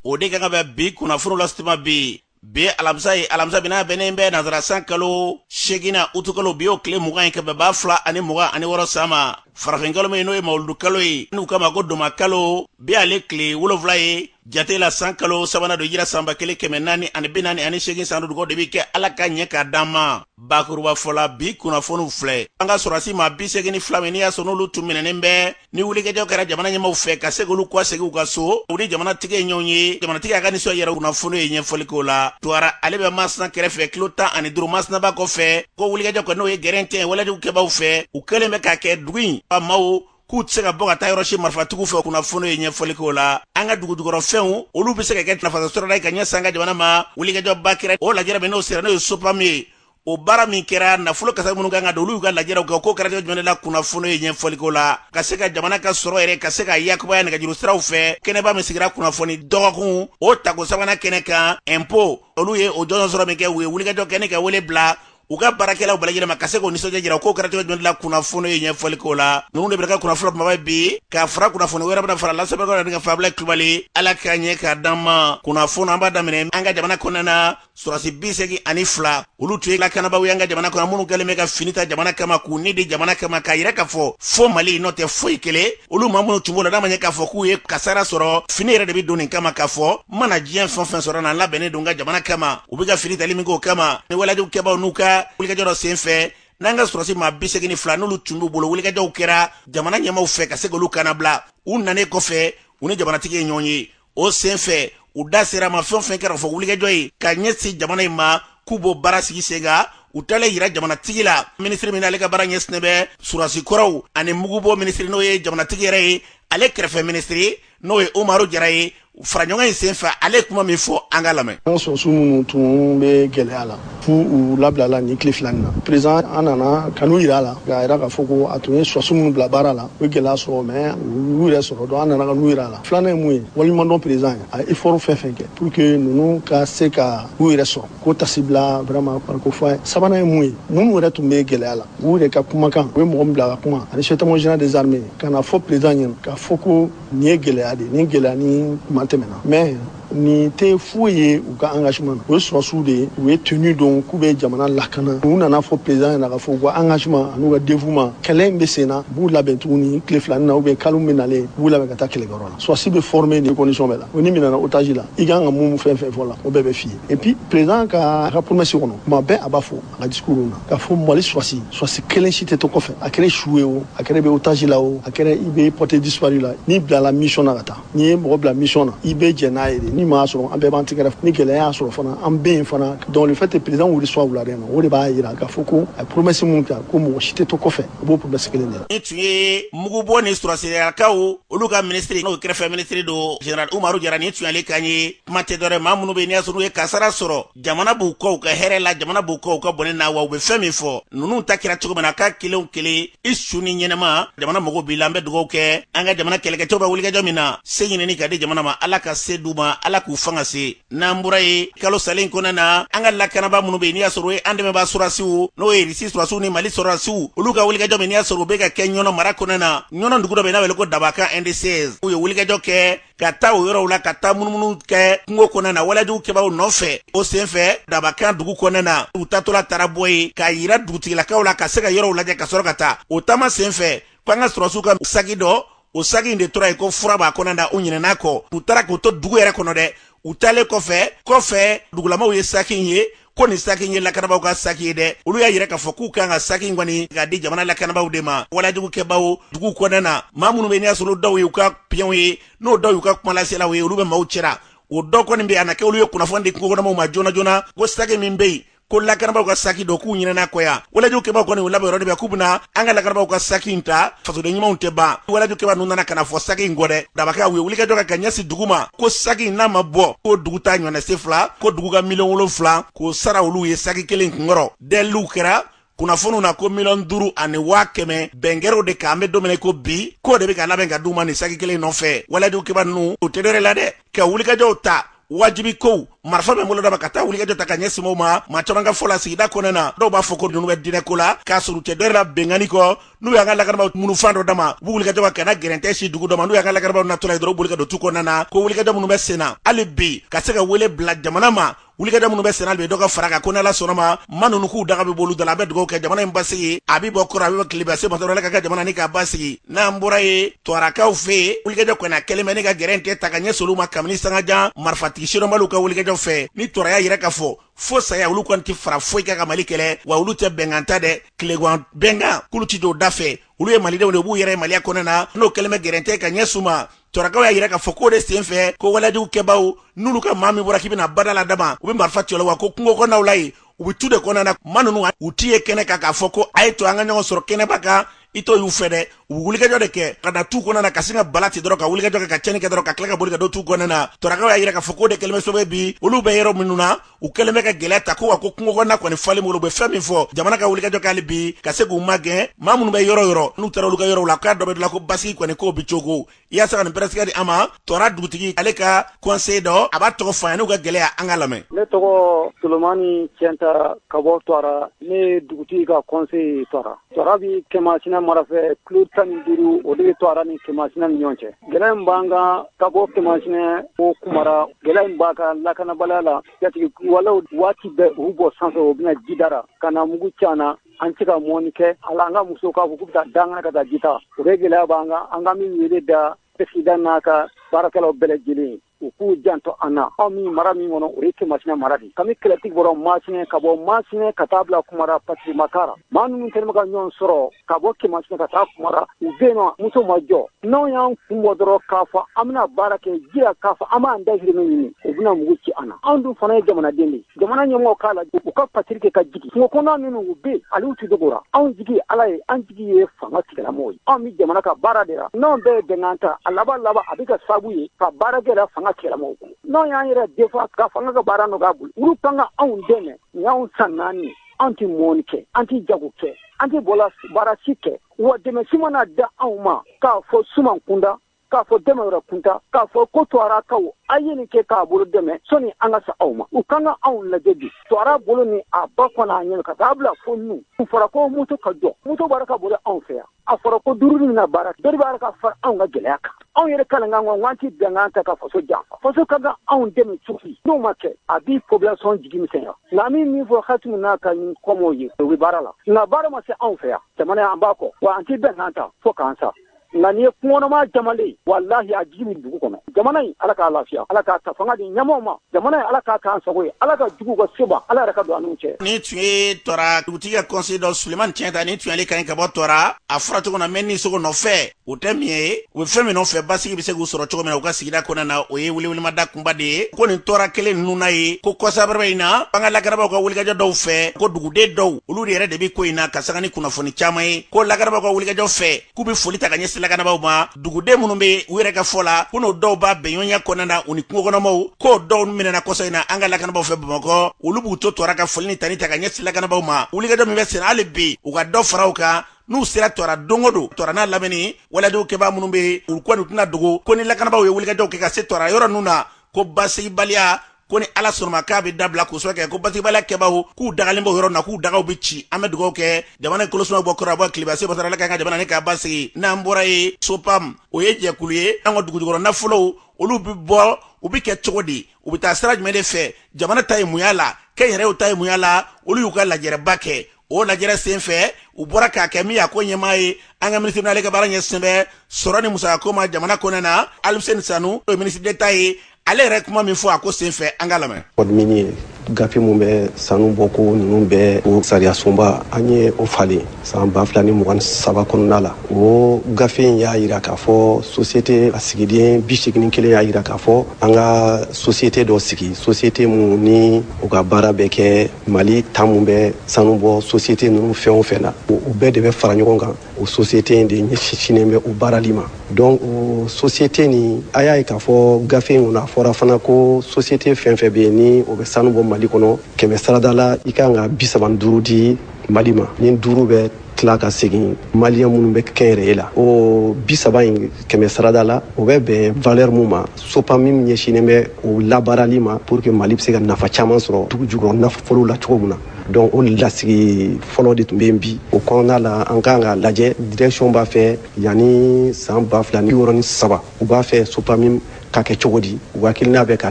o de ka kan bɛ bi kunnafoniw lase tuma bi bi ye alamisa ye alamisa bina bɛnnen bɛ nazara san kalo seginnan utukalo bi o tile mugan ye ka bɛn ba fila ani mugan ani wɔrɔ san ma farafinkalo min n'o ye mawuludu kalo ye n'u k'a ma ko dɔnba kalo bi ale tile wolonfila ye jate la san kalo sabanan don hijira san ba kelen kɛmɛ naani ani bi naani ani segin san dudugo de bɛ kɛ ala k'a ɲɛ k'a d'an ma bakurubafɔ la bi kunnafoniw filɛ an ka sɔrɔdasi maa bi segin ni fila min n'i y'a sɔrɔ n'olu tun minɛnen bɛ ni wulikajɔ kɛra jamana ɲɛmaw fɛ ka se k'olu kɔsegin u ka so u ni jamanatigi ye ɲɔgɔn ye jamanatigi y'a ka nisɔn yira kunnafoni ye ɲɛfɔli k'o la tuwara ale bɛ masina kɛrɛfɛ kilo tan ani duuru masina ba kɔfɛ ko wulikajɔ kɛra n'o ye gɛrɛntɛ walejugu kɛbaw fɛ u kɛlen bɛ k'a kɛ dugu in ka maaw k'u tɛ se ka bɔ ka taa yɔrɔ si marifatigiw fɛ kunnafoni ye ɲɛfɔli k'o la an ka dugujukɔrɔfɛnw olu bɛ se ka kɛ nafasɔrɔda ye ka ɲɛsin an ka jamana ma wulikajɔba kɛra o lajɛrɛ min n'o sera n'o ye sopamu ye o baara min kɛra nafolo kasa minnu ka kan ka don olu ka lajɛrɛw kɛ ko kɛra jumɛn la kunnafoni ye ɲɛfɔli k'o la ka se ka jamana ka sɔrɔ yɛrɛ ka se ka yakubaya nɛgɛjuru siraw fɛ kɛnɛba min sigira kunnafoni dɔgɔkun o tako sabanan kɛnɛ kan impôt olu ye o jɔnjɔn sɔrɔ minkɛ u ye wulikajɔ kɛ ni ka wele bila u ka baarakɛlaw bɛɛ lajɛlen ma ka se k'o nisɔndiya jira k'o kɛra cogo jumɛn la kunnafoni ye ɲɛfɔli k'o la ninnu de b'an ka kunnafoni kunbaba bi ka fara kunnafoni wɛrɛ bɛna fara lasɛbɛnbɛkaw ni ka fabila kulubali ala k'a ɲɛ k'a d'an ma kunnafoni an b'a daminɛ an ka jamana kɔnɔna na sɔrɔdasi bi segin ani fila olu tun ye lakanabaaw ye an ka jamana kɔnɔ minnu kɛlen bɛ ka fini ta jamana kama k'u ni di jamana kama k'a yira k'a fɔ fo mali n'o tɛ foyi kelen olu maa minnu tun b'o la n'a ma ɲɛ k'a fɔ k'u ye kasara sɔrɔ fini yɛrɛ de bɛ don nin kama k'a fɔ n mana diɲɛ fɛn fɛn sɔrɔ na n labɛnnen don n ka jamana kama u bɛ ka fini tali min k'o kama ni walejugu kɛbaaw n'u ka wulikajɔ dɔ sen fɛ n'an ka sɔrɔdasi maa bi segin ni fila n'olu tun b'u bolo wulikajɔw kɛra jamana ɲɛmaw fɛ ka se k'olu kannabila u nanen kɔfɛ u ni jamanatigi ye ɲɔgɔn ye o sen fɛ u da sera ma fɛn o fɛn kɛra fo wulikajɔ ye ka ɲɛsin jamana in ma k'u b'o baara sigi sen kan u talen yira jamanatigi la minisiri min ale ka baara ɲɛsinnen bɛ sɔrɔdasi kɔrɔw ani mugubɔ minisiri n'o ye jamanatigi yɛrɛ ye ale kɛrɛfɛ minisiri n'o ye umaru jara ye faraɲɔgɔn in sen fɛ ale kuma min fɔ an k'a lamɛn an sɔrɔdasiw minnu tun bɛ gɛlɛya la fo u labilala nin tile fila nin na perezan an nana ka n'u yira a la k'a yira k'a fɔ ko a tun ye sɔrɔdasiw minnu bila baara la u ye gɛlɛya sɔrɔ mais u y'u yɛrɛ sɔrɔ donc an nana ka n'u yira a la filanan ye mun ye waleɲumandɔn perezan ye a ye efɔrɔ fɛn fɛn kɛ pour que ninnu ka se ka u yɛrɛ sɔrɔ k'o tasi bila vraiment k'o fɔ a ye sabanan ye mun ye minnu yɛrɛ tun bɛ gɛlɛya la u yɛrɛ ka kumakan u ye mɔgɔ min bila ka kuma ani chef d'état-major général des armées ka n'a fɔ perezan ɲɛna k'a fɔ ko nin ye gɛlɛya de ye nin gɛlɛya ni kuma tɛmɛna mais nin tɛ foyi ye u ka engagement na u ye sɔrɔsiw de ye u ye tenue don k'u bɛ jamana lakana u nana fɔ président ɲɛna k'a fɔ u ka engagement an'u ka dévouement kɛlɛ in bɛ sen na b'u labɛn tuguni tile fila nin na ou bien kalo min nalen b'u labɛn ka taa kɛlɛkɛyɔrɔ la sɔrɔsi bɛ former nin condition bɛɛ la o n'i minɛna otage la i ka kan ka mun fɛn fɛn fɔ la o bɛɛ bɛ f'i ye et puis président ka ka promesse kɔnɔ tuma bɛɛ a b'a fɔ a ka discours na k'a fɔ mali sɔrɔsi sɔrɔsi kelen si tɛ to kɔfɛ a kɛra su ye o a kɛra i bɛ otage la o a kɛra i bɛ porté disparu la n'i bilala mission na ka taa n'i ye mɔgɔ bila mission na i bɛ jɛn n'a ye dɛ ni ɲuman y'a sɔrɔ an bɛɛ b'an tɛgɛrɛ ni gɛlɛya y'a sɔrɔ fana an bɛ yen fana donc le fait que président y'u recevoir wulada in na o de b'a jira k'a fɔ ko a ye promesse min kɛ ko mɔgɔ si tɛ to kɔfɛ a b'o promesse kelen de la. nin tun ye mugubɔ ni sɔrɔsiriyakaw olu ka minisiri n'o kɛrɛfɛ minisiri don general umaru jara nin tun y'ale kan ye kuma tɛ dɔ wɛrɛ maa minnu bɛ yen n'i y'a sɔrɔ u ye kasara sɔrɔ jamana b'u kɔ u ka hɛrɛ la jamana b'u kɔ u ka bɔnɛ na wa u be fɛn min fɔ nunu ta kɛra cogo min na k'a kelen o kelen i su ni ɲɛnama jamana mago b'i la an bɛ dugawu kɛ an ka jamana kɛlɛkɛcɛw bɛ wulikajɔ min na se ɲinini ka di jamana ma ala ka se d'u ma ala k'u fanga se n'an bɔra yen kalo salen kɔnɔ na an ka lakanabaa minnu be n'i y'a sɔrɔ u ye an dɛmɛbaa sɔrɔsiw n'o ye risi sɔrɔsiw ni mali sɔrɔsiw olu ka wulikajɔ min n'i y'a sɔrɔ u be ka kɛ ɲɔnɔ mara kɔnɔ na ɲɔnɔ dugu dɔ be n'a wele ko dabakan ND16 u ye wulikajɔ kɛ ka taa o yɔrɔw la ka taa munumunu kɛ kungo kɔnɔna na walajugukɛbaaw nɔfɛ o senfɛ dabakan dugu kɔnɔna na u taatɔla taara bɔ yen k'a yira dugutigilakaw la ka se ka yɔrɔw lajɛ ka sɔrɔ ka taa o taama senfɛ ko an ka sɔrɔsiw ka saki dɔ o saki in de tora yen ko fura b'a kɔnɔna na u ɲinɛn'a kɔ u taara k'o to dugu yɛrɛ kɔnɔ dɛ u taalen kɔfɛ kɔfɛ dugulamaw ye saki in ye ko nin saki in ye lakanabaaw ka saki ye dɛ olu y'a yira k'a fɔ k'u kan ka saki in kɔni k'a di jamana lakanabaaw de ma walajugukɛbaaw dugu kɔnɔna na maa minnu bɛ n'i y'a sɔrɔ dɔw y'u ka piyɔnw ye n'o dɔw y'u ka kumalaselaw ye olu bɛ maaw cɛra o dɔ kɔni bɛ a na kɛ olu ye kunnafoni di kungokɔnɔmaw ma joona joona ko saki min bɛ yen ko lakanabaaw ka saki don k'u ɲinɛn'a kɔ yan walajugukɛbaaw kɔni u labɛn yɔrɔ de bɛ k'u bɛna an ka lakanabaaw ka saki in ta fasoden ɲumanw tɛ ban walajugukɛbaa ninnu nana ka na fɔ saki in kɔ dɛ dabakan u ye wulikajɔ kɛ ka ɲɛsi dugu ma ko saki in n'a ma bɔ ko dugu ta ɲɔnɛse fila ko dugu ka miliyɔn wolonfila k'o sara olu ye saki kelen kunkɔrɔ deliw kɛra kunnafoniw na ko miliyɔn duuru ani waa kɛmɛ bɛn kɛra o de kan an bɛ don min na ko bi k'o de bɛ ka labɛn ka d'u ma nin saki kelen nɔfɛ walajugukɛbaa ninnu u tɛ dɔ wɛrɛ la dɛ ka wulikajɔw ta wajibi kow marifa bɛ bolo dama ka taa wulikajɔ ta ka ɲɛsin maaw ma maa caman ka fɔ la sigida kɔnɔna na dɔw b'a fɔ ko ninnu bɛ diinɛ ko la k'a sɔrɔ u tɛ dɔ wɛrɛ la binkanni kɔ n'u y'an ka lakanabaaw minnu fan dɔ dama u b'u wulikajɔ kɛ ka na gɛrɛntɛ se dugu dɔ ma n'u y'an ka lakanabaaw natɔla ye dɔrɔn u boli ka don tu kɔnɔna na ko wulikajɔ minnu bɛ sen na hali bi ka se ka wele bila jamana ma wulikajɔ minnu bɛ senna bi dɔ ka fara kan ko n'ala sɔnn'a ma maa ninnu k'u daga bɛ bolo da la an bɛ dugawu kɛ jamana in basigi a bɛ bɔ kɔrɔn a bɛ bɔ tilebin se ma dɔrɔn ala ka kɛ jamana nin ka basigi n'an bɔra ye tɔrakaw fɛ yen wulikajɔ kɔni a kɛlen bɛ ne ka gɛrɛntɛ ta ka ɲɛsin olu ma kabini sangajan marifatigi sidɔnbaliw ka wulikajɔ fɛ ni tɔra y'a yira k'a fɔ fo saya olu kɔni tɛ fara foyi kan ka mali kɛlɛ wa olu tɛ bɛnkan ta dɛ kɛlɛban bɛnkan k'olu ti don da fɛ olu ye malidenw de b'u yɛrɛ maliya kɔnɔ na n'o kɛlen bɛ gɛrɛntɛ ka ɲɛsin u ma tɔrakaw y'a yira k'a fɔ k'o de sen fɛ ko walejugu kɛbaaw n'olu ka maa min bɔra k'i bɛna bada la dama u bɛ marifa ci o la wa ko kungo kɔnɔnaw la yen u bɛ tu de kɔnɔna na maa ninnu u t'i ye kɛnɛ kan k'a fɔ ko a ye to an ka ɲɔgɔn sɔrɔ kɛnɛba kan i t'o y'u fɛ dɛ u bɛ wulikajɔ de kɛ ka na tu kɔnɔna na ka sin ka bala ten dɔrɔn ka wulikajɔ kɛ ka cɛnni kɛ dɔrɔn ka tila ka boli ka don tu kɔnɔna na tɔrakaw y'a yira k'a fɔ k'o de kɛlen bɛ sababu ye bi olu bɛ yɔrɔ minnu na u kɛlen bɛ ka gɛlɛya ta ko wa ko kungo kɔnɔna kɔni falen bolo u bɛ fɛn min fɔ jamana ka wulikajɔ kɛ hali bi ka se k'u magɛn maa minnu bɛ yɔrɔ yɔrɔ n'u taara olu ka yɔrɔw la k'a dɔ bɛ dilan ko basigi kɔni k'o bɛ cogo i y'a se ka nin pɛrɛsigɛ di an ma tɔra dugutigi ale ka kɔnse dɔ a b'a tɔgɔ fɔ an ye n'u ka gɛlɛya an ka lamɛn ne tɔgɔ solomani cɛnta ka bɔ tɔra ne ye dugutigi ka kɔnse ye tɔra tɔra bi kɛmasina mara fɛ kilo tan ni duuru o de bɛ tɔra ni kɛmasina ni ɲɔgɔn cɛ gɛlɛya in b'an kan ka bɔ kɛmasina o kumara gɛlɛya in b'an kan lakanabaliya la jatigɛwalew waati bɛɛ u bɔ sanfɛ u bɛ na jida ra ka na mugu ci an na an tɛ se ka mɔni kɛ hali an ka musow k'a fɔ k'u bɛ taa dankan na ka taa ji ta o bɛɛ gɛlɛya b'an kan an ka min wele da pɛrɛsidan n'a ka baarakɛlaw bɛɛ lajɛlen ye u k'u janto an na anw min mara min kɔnɔ o ye kɛmasina mara de kami kɛlɛtigi bɔra masina ka bɔ masina ka taa bila kumara patiri makara maa ninnu kɛnɛma ka ɲɔgɔn sɔrɔ ka bɔ kɛmasina ka taa kumara u bɛ nɔ moto ma jɔ n'anw y'an kun bɔ dɔrɔn k'a fɔ an bɛna baara kɛ ji ra k'a fɔ an b'an dahirimɛ ɲini u bɛna mugu ci an na anw dun fana ye jamanaden de jamana ɲɛmɔgɔw k'a lajɛ u ka patiri kɛ ka jigi kungo kɔnɔna minnu u bɛ hali u tɛ dogo la anw jigi ala ye an jigi ye fanga tigilamɔgɔw ye anw bɛ jamana ka baara de la n'anw bɛɛ ye bɛnkan ta a laban laban a bɛ kɛ sababu ye ka baara gɛlɛya fanga tigilamɔgɔw kun n'anw y'an yɛrɛ defa ka fanga ka baara nɔgɔya u bolo olu kan ka anw dɛmɛ nin y'anw san naani an tɛ mɔni kɛ an tɛ jago kɛ an tɛ bolola baara si kɛ wa dɛmɛ si ma na d'anw ma k'a fɔ suman kunda k'a fɔ dɛmɛ wɛrɛ kunda k'a fɔ ko tuwarakaw a ye nin kɛ k'aw bolo dɛmɛ sani an ka se aw ma u kan ka anw lajɛ bi tuwara bolo ni a ba kɔnɔ a ɲɛnɛ ka taa bila fo nu a fɔra ko moto ka jɔ moto baara ka bolo anw fɛ yan a fɔra ko duruni na baara dɔ de bɛ ka fara anw ka gɛlɛya kan anw yɛrɛ kalen kan k'an ti bɛnkan ta ka faso janfa faso ka kan anw dɛmɛ cogo n'o ma kɛ a bi popilasɔn jigi misɛnya nka min min fɔ asimi n'a ka ɲi kɔmɔw ye u bɛ baara la nka baara ma se anw fɛ yan jamana an b'a kɔ wa an tɛ bɛnkan ta fo k'an sa nka nin ye kungokɔnɔmaa jamale ye walahi a jigi min dugu kɔnɔ jamana in ala k'a lafiya ala k'a ta fanga di ɲɛmɔgɔw ma jamana in ala k'a k'an sago ye ala ka juguw ka se ban ala yɛrɛ ka don an n'u cɛ nin tun ye tɔra dugutigi ka kɔnse dɔ suleman cɛnta nin tun y'ale kan ye ka bɔ tɔra a fɔra cogo na mɛ ni sogo nɔfɛ u tɛ min ye u bɛ fɛn min nɔfɛ basigi bɛ se k'u sɔrɔ cogo min na u ka sigida kɔnɔna na o ye welewelemada kunba de ye ko nin tɔra kelen ninnu na ye ko kɔsabaraba in na an ka lakanabagaw ka wulikajɔ dɔw fɛ ko duguden dɔw olu de yɛrɛ de bɛ ko in na ka taga ni kunnafoni caman ye ko lakanabagaw ka wulikajɔ fɛ k'u be foli ta ka ɲɛsi lakanabaaw ma duguden minnu be u yɛrɛ ka fɔ la ko n'o dɔw b'a bɛnɲɔgɔnya kɔnɔna na u ni kungokɔnɔmaw k'o dɔw minɛna kɔsa in na an ka lakanabaaw fɛ bamakɔ olu b'u to tɔra ka foli ni tanu ta ka ɲɛsi lakanabaaw ma wulikajɔ min bɛ sen na hali bi u ka dɔ fara u kan n'u sera tɔra don o don tɔra n'a lamini waledenw kɛbaa minnu be u kɔni tɛna dogo ko ni lakanabaaw ye wulikajɔw kɛ ka se tɔra yɔrɔ ninnu na ko basigibaliya ko ni ala sɔnna a ma k'a bɛ dabila k'o sɔrɔ kɛ ko basigibaliya kɛbaaw k'u dagalen b'o yɔrɔ na k'u dagaw bɛ ci an bɛ dugawu kɛ jamana in kolosuma bɔ kɔrɔn bɔ tilebin se masa ala k'an ka jamana ni k'a basigi n'an bɔra yen sopam o ye jɛkulu ye an ka dugujukɔrɔ nafolow olu bɛ bɔ u bɛ kɛ cogo di u bɛ taa sira jumɛn de fɛ jamana ta ye mun y'a la kɛnyɛrɛyew ta ye mun y'a la olu y'u ka lajɛrɛba kɛ o lajɛrɛ sen fɛ u bɔra k'a kɛ min y'a ko ɲɛmaa ye an ka minisiri n'ale ka baara ɲɛsinnen bɛ sɔrɔ ni musakako ma jamana kɔnɔna na aluseni sanu o ye minisiri d'état ye ale yɛrɛ kuma min fɔ a ko sen fɛ an k'a lamɛn code minier gafe min bɛ sanu bɔ ko ninnu bɛɛ o sariyasunba an ye o falen san ba fila ni mugan saba kɔnɔna la o gafe in y'a yira k'a fɔ sosiyete a sigiden bi segin ni kelen y'a yira k'a fɔ an ka sosiyete dɔ sigi sosiyete minnu ni u ka baara bɛ kɛ mali ta min bɛ sanu bɔ sosiyete ninnu fɛn o fɛn na o bɛɛ de bɛ fara ɲɔgɔn kan o sosiyete in de ɲɛsinnen bɛ o baarali ma donc o sosiyete nin a y'a ye k'a fɔ gafe in kɔnɔ a fɔra fana ko sosiyete fɛn fɛn bɛ yen ni o bɛ sanu bɔ mali kɔnɔ kɛmɛ sarada la i kan ka bisaba ni duuru di mali ma ni duuru bɛ tila ka segin maliyɛn minnu bɛ kɛnyɛrɛye la o bi saba in kɛmɛ sarada la o bɛ bɛn valeur min ma sopamim ɲɛsinnen bɛ o labaarali ma pour que mali bɛ se ka nafa caman sɔrɔ dugu jukɔrɔ nafolo la cogo min na donc o lasigi fɔlɔ de tun bɛ yen bi o kɔnɔna la an kan k'a lajɛ direction b'a fɛ yanni san ba fila ni bi wɔɔrɔ ni saba u b'a fɛ sopamim ka kɛ cogo di u ka hakilina bɛ ka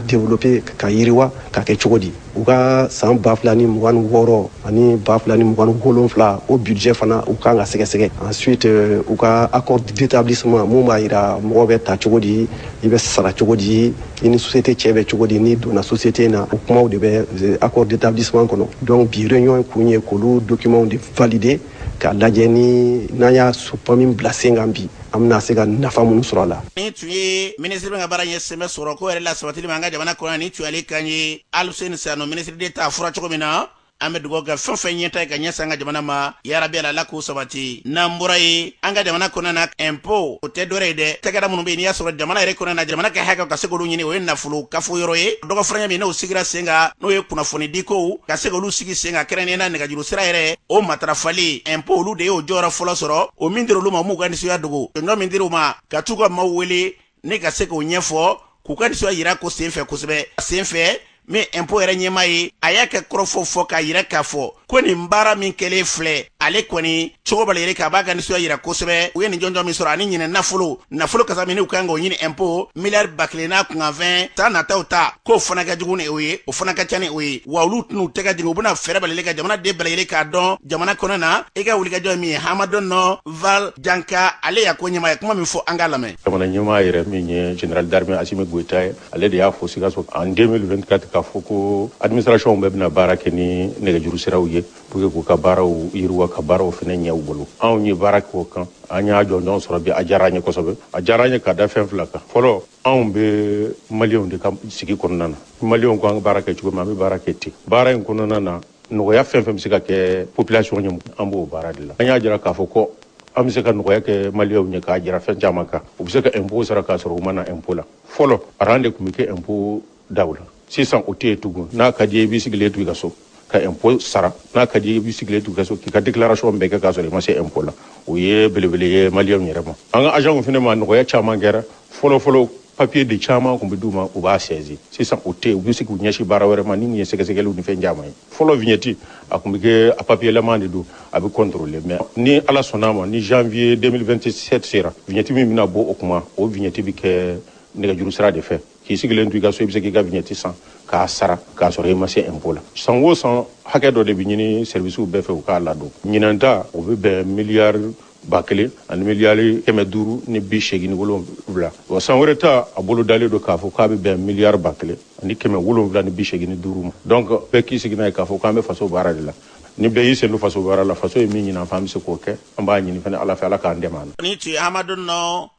développer ka yiriwa ka kɛ cogo di u ka san ba fila ni mugan ni wɔɔrɔ ani ba fila ni mugan ni wolonfila o budget fana u kan k'a sɛgɛsɛgɛ ensuite euh, u ka accord d'établissement mun b'a yira mɔgɔ bɛ ta cogo di i bɛ sara cogo di i ni société cɛ bɛ cogo di n'i donna société na o kumaw de bɛ euh, accord d'établissement kɔnɔ donc bi réunion kun ye k'olu documentw de valider k'a lajɛ ni n'an ye sopamim bila sen kan bi an bɛna se ka nafa minnu sɔrɔ a la nin tun ye minisiri min ka baara ɲɛsinnen bɛ sɔrɔ ko yɛrɛ lasabatili ma an ka jamana kɔnɔ nin tun y'ale kan ye aluseni sanu minisiri d'état fɔra cogo min na an bɛ dugawu kɛ fɛn fɛn ɲɛtaa ye ka ɲɛsin an ka jamana ma yarabi ala k'u sabati n'an bɔra yen an ka jamana kɔnɔna na ɛnpo o tɛ dɔwɛrɛ ye dɛ cakɛda minnu bɛ yen n'i y'a sɔrɔ jamana yɛrɛ kɔnɔna na jamana ka hakɛ ka se k'olu ɲini o ye nafolo kafo yɔrɔ ye dɔgɔfaranya min n'o sigira sen kan n'o ye kunnafoni dikow ka se k'olu sigi sen kan kɛrɛnkɛrɛnnenya la nɛgɛjuru sira yɛrɛ o matarafali ɛnpo olu de y'o jɔyɔrɔ fɔlɔ sɔrɔ o min dira olu ma m'u ka nisɔndiya dogo jɔnjɔn min dira u ma ka tugu ka maaw wele ni ka se k'o ɲɛfɔ k'u ka nisɔndiya yira ko sen fɛ kosɛbɛ sen fɛ min ɛnpo yɛrɛ ɲɛmaa ye a y'a ka kɔrɔfɔ fɔ k'a yira k'a fɔ ko nin baara min kɛlen filɛ ale kɔni cogo bɛɛ lajɛlen k'a b'a ka nisɔndiya yira kosɛbɛ u ye nin jɔnjɔn min sɔrɔ ani ɲinɛ nafolo nafolo kasabi min n'u ka kan k'o ɲini impôt miliyari ba kelen n'a kunkanfɛn san nataw ta k'o fana ka jugu ni o ye o fana ka ca ni o ye wa olu tɛn'u tɛgɛ jigin u bɛna fɛɛrɛ bɛɛ lajɛlen kɛ jamanaden bɛɛ lajɛlen k'a dɔn jamana kɔnɔ na i ka wulikajɔ ye min ye hamadun fal janka ale y'a ko ɲɛmaa ye kuma min fɔ an k'a lamɛn jamana ɲɛmaa yɛrɛ min ye général d'armée asimi goyita ye ale de y'a fɔ sikaso en 2024 k'a fɔ ko administration bɛɛ bɛna baara kɛ ni nɛgɛjuru siraw ye pour que k'u ka baaraw yiriwa ka baaraw fana ɲɛ u bolo anw ye baara k'o kan an y'a jɔnjɔn sɔrɔ bi a diyara an ye kosɛbɛ a diyara an ye ka da fɛn fila kan fɔlɔ anw bɛ maliyɛnw de ka sigi kɔnɔna na maliyɛnw ko an ka baara kɛ cogo min an bɛ baara kɛ ten baara in kɔnɔna na nɔgɔya fɛn fɛn bɛ se ka kɛ population ye an b'o baara de la an y'a jira k'a fɔ ko an bɛ se ka nɔgɔya kɛ maliyɛnw ye k'a jira fɛn caman kan u bɛ se ka impôt sara k'a sɔrɔ u ma na impôt la fɔlɔ aran de tun bɛ kɛ impôt daw la sisan o tɛ yen tugun n'a ka d'i ye i b'i sigilen to i ka so ka impôt sara n'a ka d'i ye i b'i sigilen to i ka so k'i ka déclaration bɛɛ kɛ k'a sɔrɔ i ma se impôt la o ye belebele ye maliyɛnw yɛrɛ ma an ka agentw fana ma nɔgɔya caman kɛra fɔlɔfɔlɔ papiye de caman tun bɛ d'u ma u b'a sɛzi sisan o tɛ u bɛ se k'u ɲɛsin baara wɛrɛ ma ni nin ye sɛgɛsɛgɛliw ni fɛn caman ye fɔlɔ vignette a tun bɛ kɛ a papiyelama de don a bɛ contrôler mais ni ala sɔnn'a ma ni janvier 2027 sera vignette min bɛna bɔ o kuma o vignette bɛ kɛ nɛgɛjuru sira de fɛ k'i sigilen to i ka so i bɛ se k'i ka vignette san k'a sara k'a sɔrɔ i ma se impôt la san o san hakɛ dɔ de bɛ ɲini servisiw bɛɛ fɛ u k'a ladon ɲinan ta o bɛ bɛn miliyari ba kelen ani miliyari kɛmɛ duuru ni bi seegin ni wolonwula wa san wɛrɛ ta a bolo dalen don k'a fɔ k'a bɛ bɛn miliyari ba kelen ani kɛmɛ wolonwula ni bi seegin ni duuru ma donc bɛɛ k'i sigi n'a ye k'a fɔ k'an bɛ faso baara de la ni bɛɛ y'i sen don faso baara la faso ye min ɲini an fɛ an bɛ se k'o kɛ an b'a ɲini fana ala fɛ ala k'an dɛmɛ nin tun ye hamadun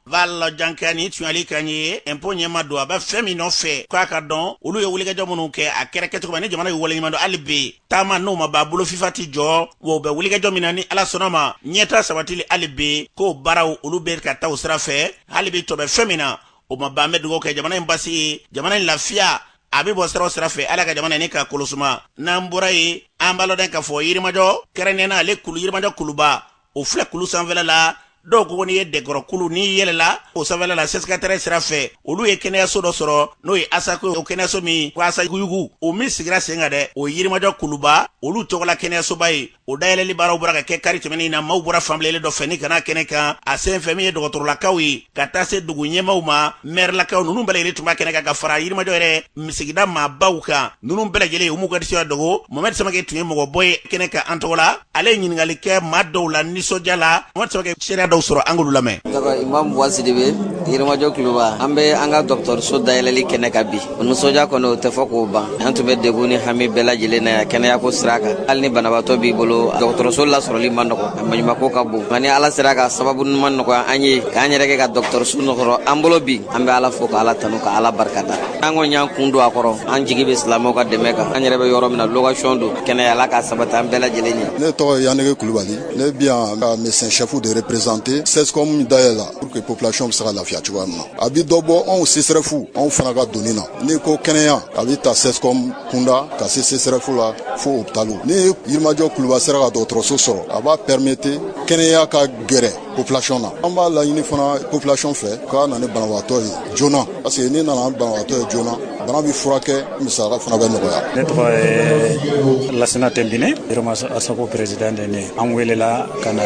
fal janka nin tun y'ale kan ye impôt ɲɛmaa don a bɛ fɛn min nɔfɛ k'a ka dɔn olu ye wulikajɔ minnu kɛ a kɛra kɛcogo ma ni jamana ye waleɲumandɔn hali bi taama n'o ma ban bolo fifa tɛ jɔ wa u bɛ wulikajɔ min na ni ala sɔnn'a ma ɲɛtaa sabatili hali bi k'o baaraw olu bɛ ka taa o sira fɛ hali bi tɔ bɛ fɛn min na o ma ban an bɛ dugawu kɛ jamana in basigi ye jamana in lafiya a bɛ bɔ sira o sira fɛ ala ka jamana ni ka kolosuma n'an bɔra yen an b'a lɔn k'a fɔ yirimajɔ kɛrɛnnenya na ale kulu yirimajɔ kuluba o filɛ kulu sanfɛla la dɔw ko n'i ye dɛkɔrɔkulu n'i yɛlɛla o sanfɛla la sɛsikatɛrɛ sira fɛ olu ye kɛnɛyaso dɔ sɔrɔ n'o ye asako o kɛnɛyaso min ko asakuyugu o min sigira sen kan dɛ o yirimajɔ kuluba olu tɔgɔla kɛnɛyasoba ye o dayɛlɛli baaraw bɔra ka kɛ kari tɛmɛnen na maaw bɔra fan bɛɛ lajɛlen dɔ fɛ ni ka na kɛnɛ kan a sen fɛ min ye dɔgɔtɔrɔlakaw ye ka taa se dugu ɲɛmaaw ma mɛrilakaw ninnu bɛɛ lajɛlen tun b'a kɛnɛ kan ka fara yirimajɔ yɛrɛ min sigida maabaw kan ninnu bɛɛ lajɛlen u m'u ka nisɔndiya dogo mohamɛdi samake tun ye mɔgɔbɔ ye kɛnɛ kan an tɔgɔ la ale ye ɲininkali kɛ maa dɔw la nisɔndiya la mohamɛdi samake seereya dɔw sɔrɔ an k'olu lamɛn imam buwa sidibe yirimajɔ kuluba an bɛ an ka dɔgɔtɔrɔso dayɛlɛli kɛnɛ kan bi o nisɔndiya kɔni o tɛ fɔ k'o ban an tun bɛ degun ni hami bɛɛ lajɛlen na yan kɛnɛyako sira kan hali ni banabaatɔ b'i bolo dɔgɔtɔrɔso lasɔrɔli ma nɔgɔ a maɲumako ka bon nka ni ala sera ka sababu ɲuman nɔgɔya an ye k'an yɛrɛ kɛ ka dɔgɔtɔrɔso sɔrɔ an bolo bi an bɛ ala fo ka ala tanu ka ala barikada an kɔni y'an kun don a kɔrɔ an jigi bɛ silamɛw ka dɛmɛ kan an yɛrɛ bɛ yɔrɔ min na lokasiyɔn don kɛnɛya ala k'a sabati an bɛɛ lajɛlen ye ne tɔgɔ ye yaniki kulubali ne bi yan ka médecin chef de représenter sescom dayɛlɛ la pour que population bɛ se ka lafiya cogoya min na a bɛ dɔ bɔ anw sesɛrɛfu anw fana ka doni na n'i ko kɛnɛya a bɛ ta sescom kunda ka se sesɛrɛfu la fo hopitali ni yirimajɔ kuluba sera ka dɔgɔtɔrɔso sɔrɔ a b'a pɛrɛmete kɛnɛya ka gɛrɛ population na an b'a laɲini fana population fɛ u ka na ni banabagatɔ ye joona parce que n'i nana ni banabagatɔ ye joona bana bɛ furakɛ musaka fana bɛ nɔgɔya ne tɔgɔ ye lasina tɛnbine yirima asako président de ne an welela ka na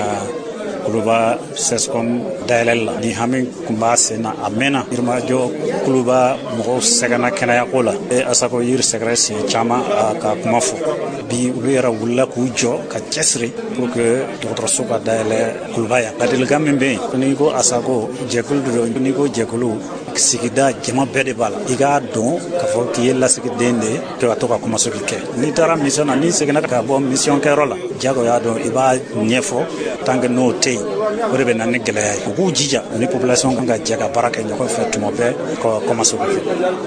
kuluba sɛscom dayɛlɛli la nin hami kun b'a sen na a mɛnna yirimajɔ kuluba mɔgɔw sɛgɛnna kɛnɛyako la u ye asako yiri sɛgɛrɛ siɲɛ caman ka kuma fo bi olu yɛrɛ wulila k'u jɔ ka cɛsiri pour que dɔgɔtɔrɔso ka dayɛlɛ kuluba yan ladilikan min bɛ yen n'i ko asako jɛkulu de don n'i ko jɛkulu sigida jama bɛɛ de b'a la i k'a dɔn k'a fɔ k'i ye lasigiden de ye ka to ka kɔmasegin kɛ n'i taara mission na n'i seginna ka bɔ mission kɛyɔrɔ la jagoya don i b'a ɲɛfɔ tant que n'o tɛ yen o de bɛ na ni gɛlɛya ye u k'u jija u ni population ka jɛ ka baara kɛ ɲɔgɔn fɛ tuma bɛɛ ka kɔmasegin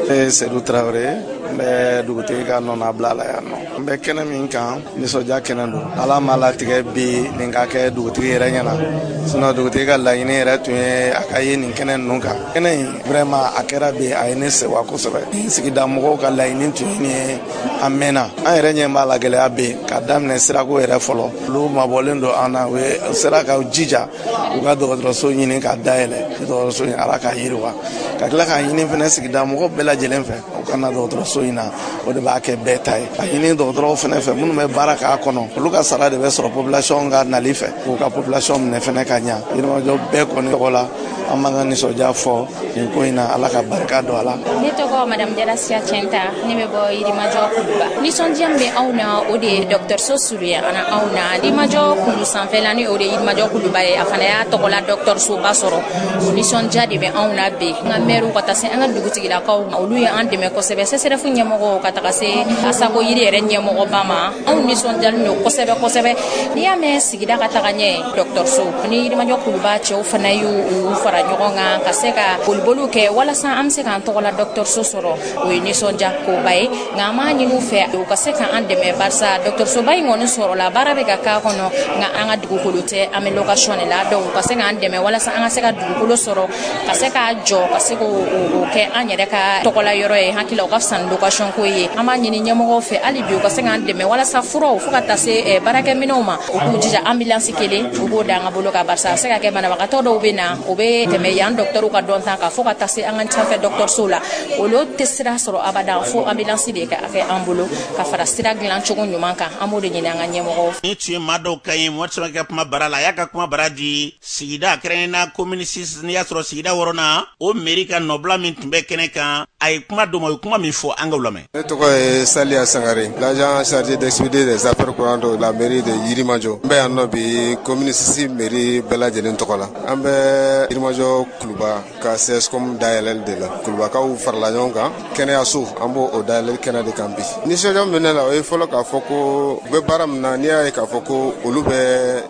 kɛ sedu tarawele n bɛ dugutigi ka nɔnabila la yan nɔ n bɛ kɛnɛ min kan nisɔndiya kɛnɛ don ala m'a latigɛ bi nin ka kɛ dugutigi yɛrɛ ɲɛna sinɔn dugutigi ka laɲini yɛrɛ tun ye a ka ye nin kɛnɛ ninnu kan kɛnɛ in Vraiment a kɛra bi a ye ne sewa kosɛbɛ. Sigida mɔgɔw ka laɲini tun ye nin ye a mɛnna. An yɛrɛ ɲɛ b'a la gɛlɛya bɛ yen ka daminɛ sirako yɛrɛ fɔlɔ. Olu mabɔlen don an na u ye u sera ka jija u ka dɔgɔtɔrɔso ɲini k'a dayɛlɛ. Dɔgɔtɔrɔso in Ala k'a yiriwa ka tila k'a ɲini fɛnɛ sigida mɔgɔw bɛɛ lajɛlen fɛ u ka na dɔgɔtɔrɔso in na o de b'a kɛ bɛɛ ta ye k'a ɲini dɔgɔtɔrɔw fɛnɛ fɛ minnu bɛ baara k'a kɔnɔ olu ka sara de bɛ sɔrɔ population ka nali fɛ k'u ka population minɛ fɛnɛ ka ɲa yirimajɔ bɛɛ kɔni tɔgɔ la an b'an ka nisɔndiya fɔ nin ko in na ala ka barika don a la ne tɔgɔ madamu jara asiya cɛnta ne bɛ bɔ yirimajɔ kuluba nisɔndiya min bɛ anw na o de ye dɔgɔtɔrɔso anw na yirimajɔ kulu sanfɛla ni o de ye yirimajɔ kuluba ye a fana y'a tɔgɔla dɔgɔtɔrɔsoba sɔrɔ o nisɔndiya de bɛ anw na bi an ka mɛriw ka taa se an ka dugutigilakaw ma olu ye an dɛmɛ kosɛbɛ sɛsɛrɛfu ɲɛmɔgɔ ka taga se asako yiri yɛrɛ ɲɛmɔgɔba ma anw nisɔndiyalen don kosɛbɛ kosɛbɛ n'i y'a mɛn sigida ka taga ɲɛ dɔgɔtɔrɔso ni yirimajɔ kuluba cɛw fana y'u fara ɲɔgɔn kan ka se ka boliboliw kɛ walasa an bɛ se k'an tɔgɔla dɔgɔtɔrɔso sɔrɔ o ye nisɔndiya koba ye nka an b'a ɲini u fɛ u ka se ka an dɛmɛ barisa dɔgɔtɔrɔsoba in kɔni sɔrɔla baara bɛ ka k'a kɔnɔ nka an ka dugukolo tɛ an bɛ lokasiyɔn de la donc u ka se k'an dɛmɛ walasa an ka se ka dugukolo sɔrɔ ka se k'a jɔ ka se k'o kɛ an yɛrɛ ka tɔgɔla yɔrɔ ye hakili la o ka fisa ni lokasiyɔn ko ye an b'a ɲini ɲɛmɔgɔw fɛ hali bi u ka se k'an dɛmɛ walasa furaw fo ka taa se eh, baarakɛminɛw ma u k'u jija ambilansi kelen u b'o da an ka bolo kan barisa a se ka kɛ banabagatɔ dɔw bɛ na u bɛ tɛmɛ yan dɔgɔtɔrɔw ka dɔnta kan fo ka taa se an ka sanfɛ dɔgɔtɔrɔsow la olu tɛ sira sɔrɔ abada fo ambulansi de ka kɛ an bolo ka fara sira dilan cogo ɲuman kan an b'o de ɲini an ka ɲɛmɔgɔw fɛ. nin tun ye maa dɔw ka ye mɔgɔ sɔrɔ ka kuma bara la a y'a ka kuma bara di sigida kɛrɛnkɛrɛnnenya komini sis n'i y'a sɔrɔ sigida wɔɔrɔnan o meri ka nɔbila min tun bɛ kɛnɛ kan a ye kuma d'o ma o ye kuma min fɔ an k'a lamɛn. ne tɔgɔ ye saliya sangare l'agent chargé d'expédier des affaires courantes de la mairie de yirimajɔ n bɛ yan nɔ bi komini sisi meri bɛɛ lajɛlen tɔgɔ la an bɛ yirimajɔ kuluba ka cscom dayɛlɛli de la kulubakaw farala ɲɔgɔn kan kɛnɛyaso an b'o dayɛlɛli kɛnɛ de kan bi nisɔndiya min ne la o ye fɔlɔ k'a fɔ ko u bɛ baara min na n'i y'a ye k'a fɔ ko olu bɛ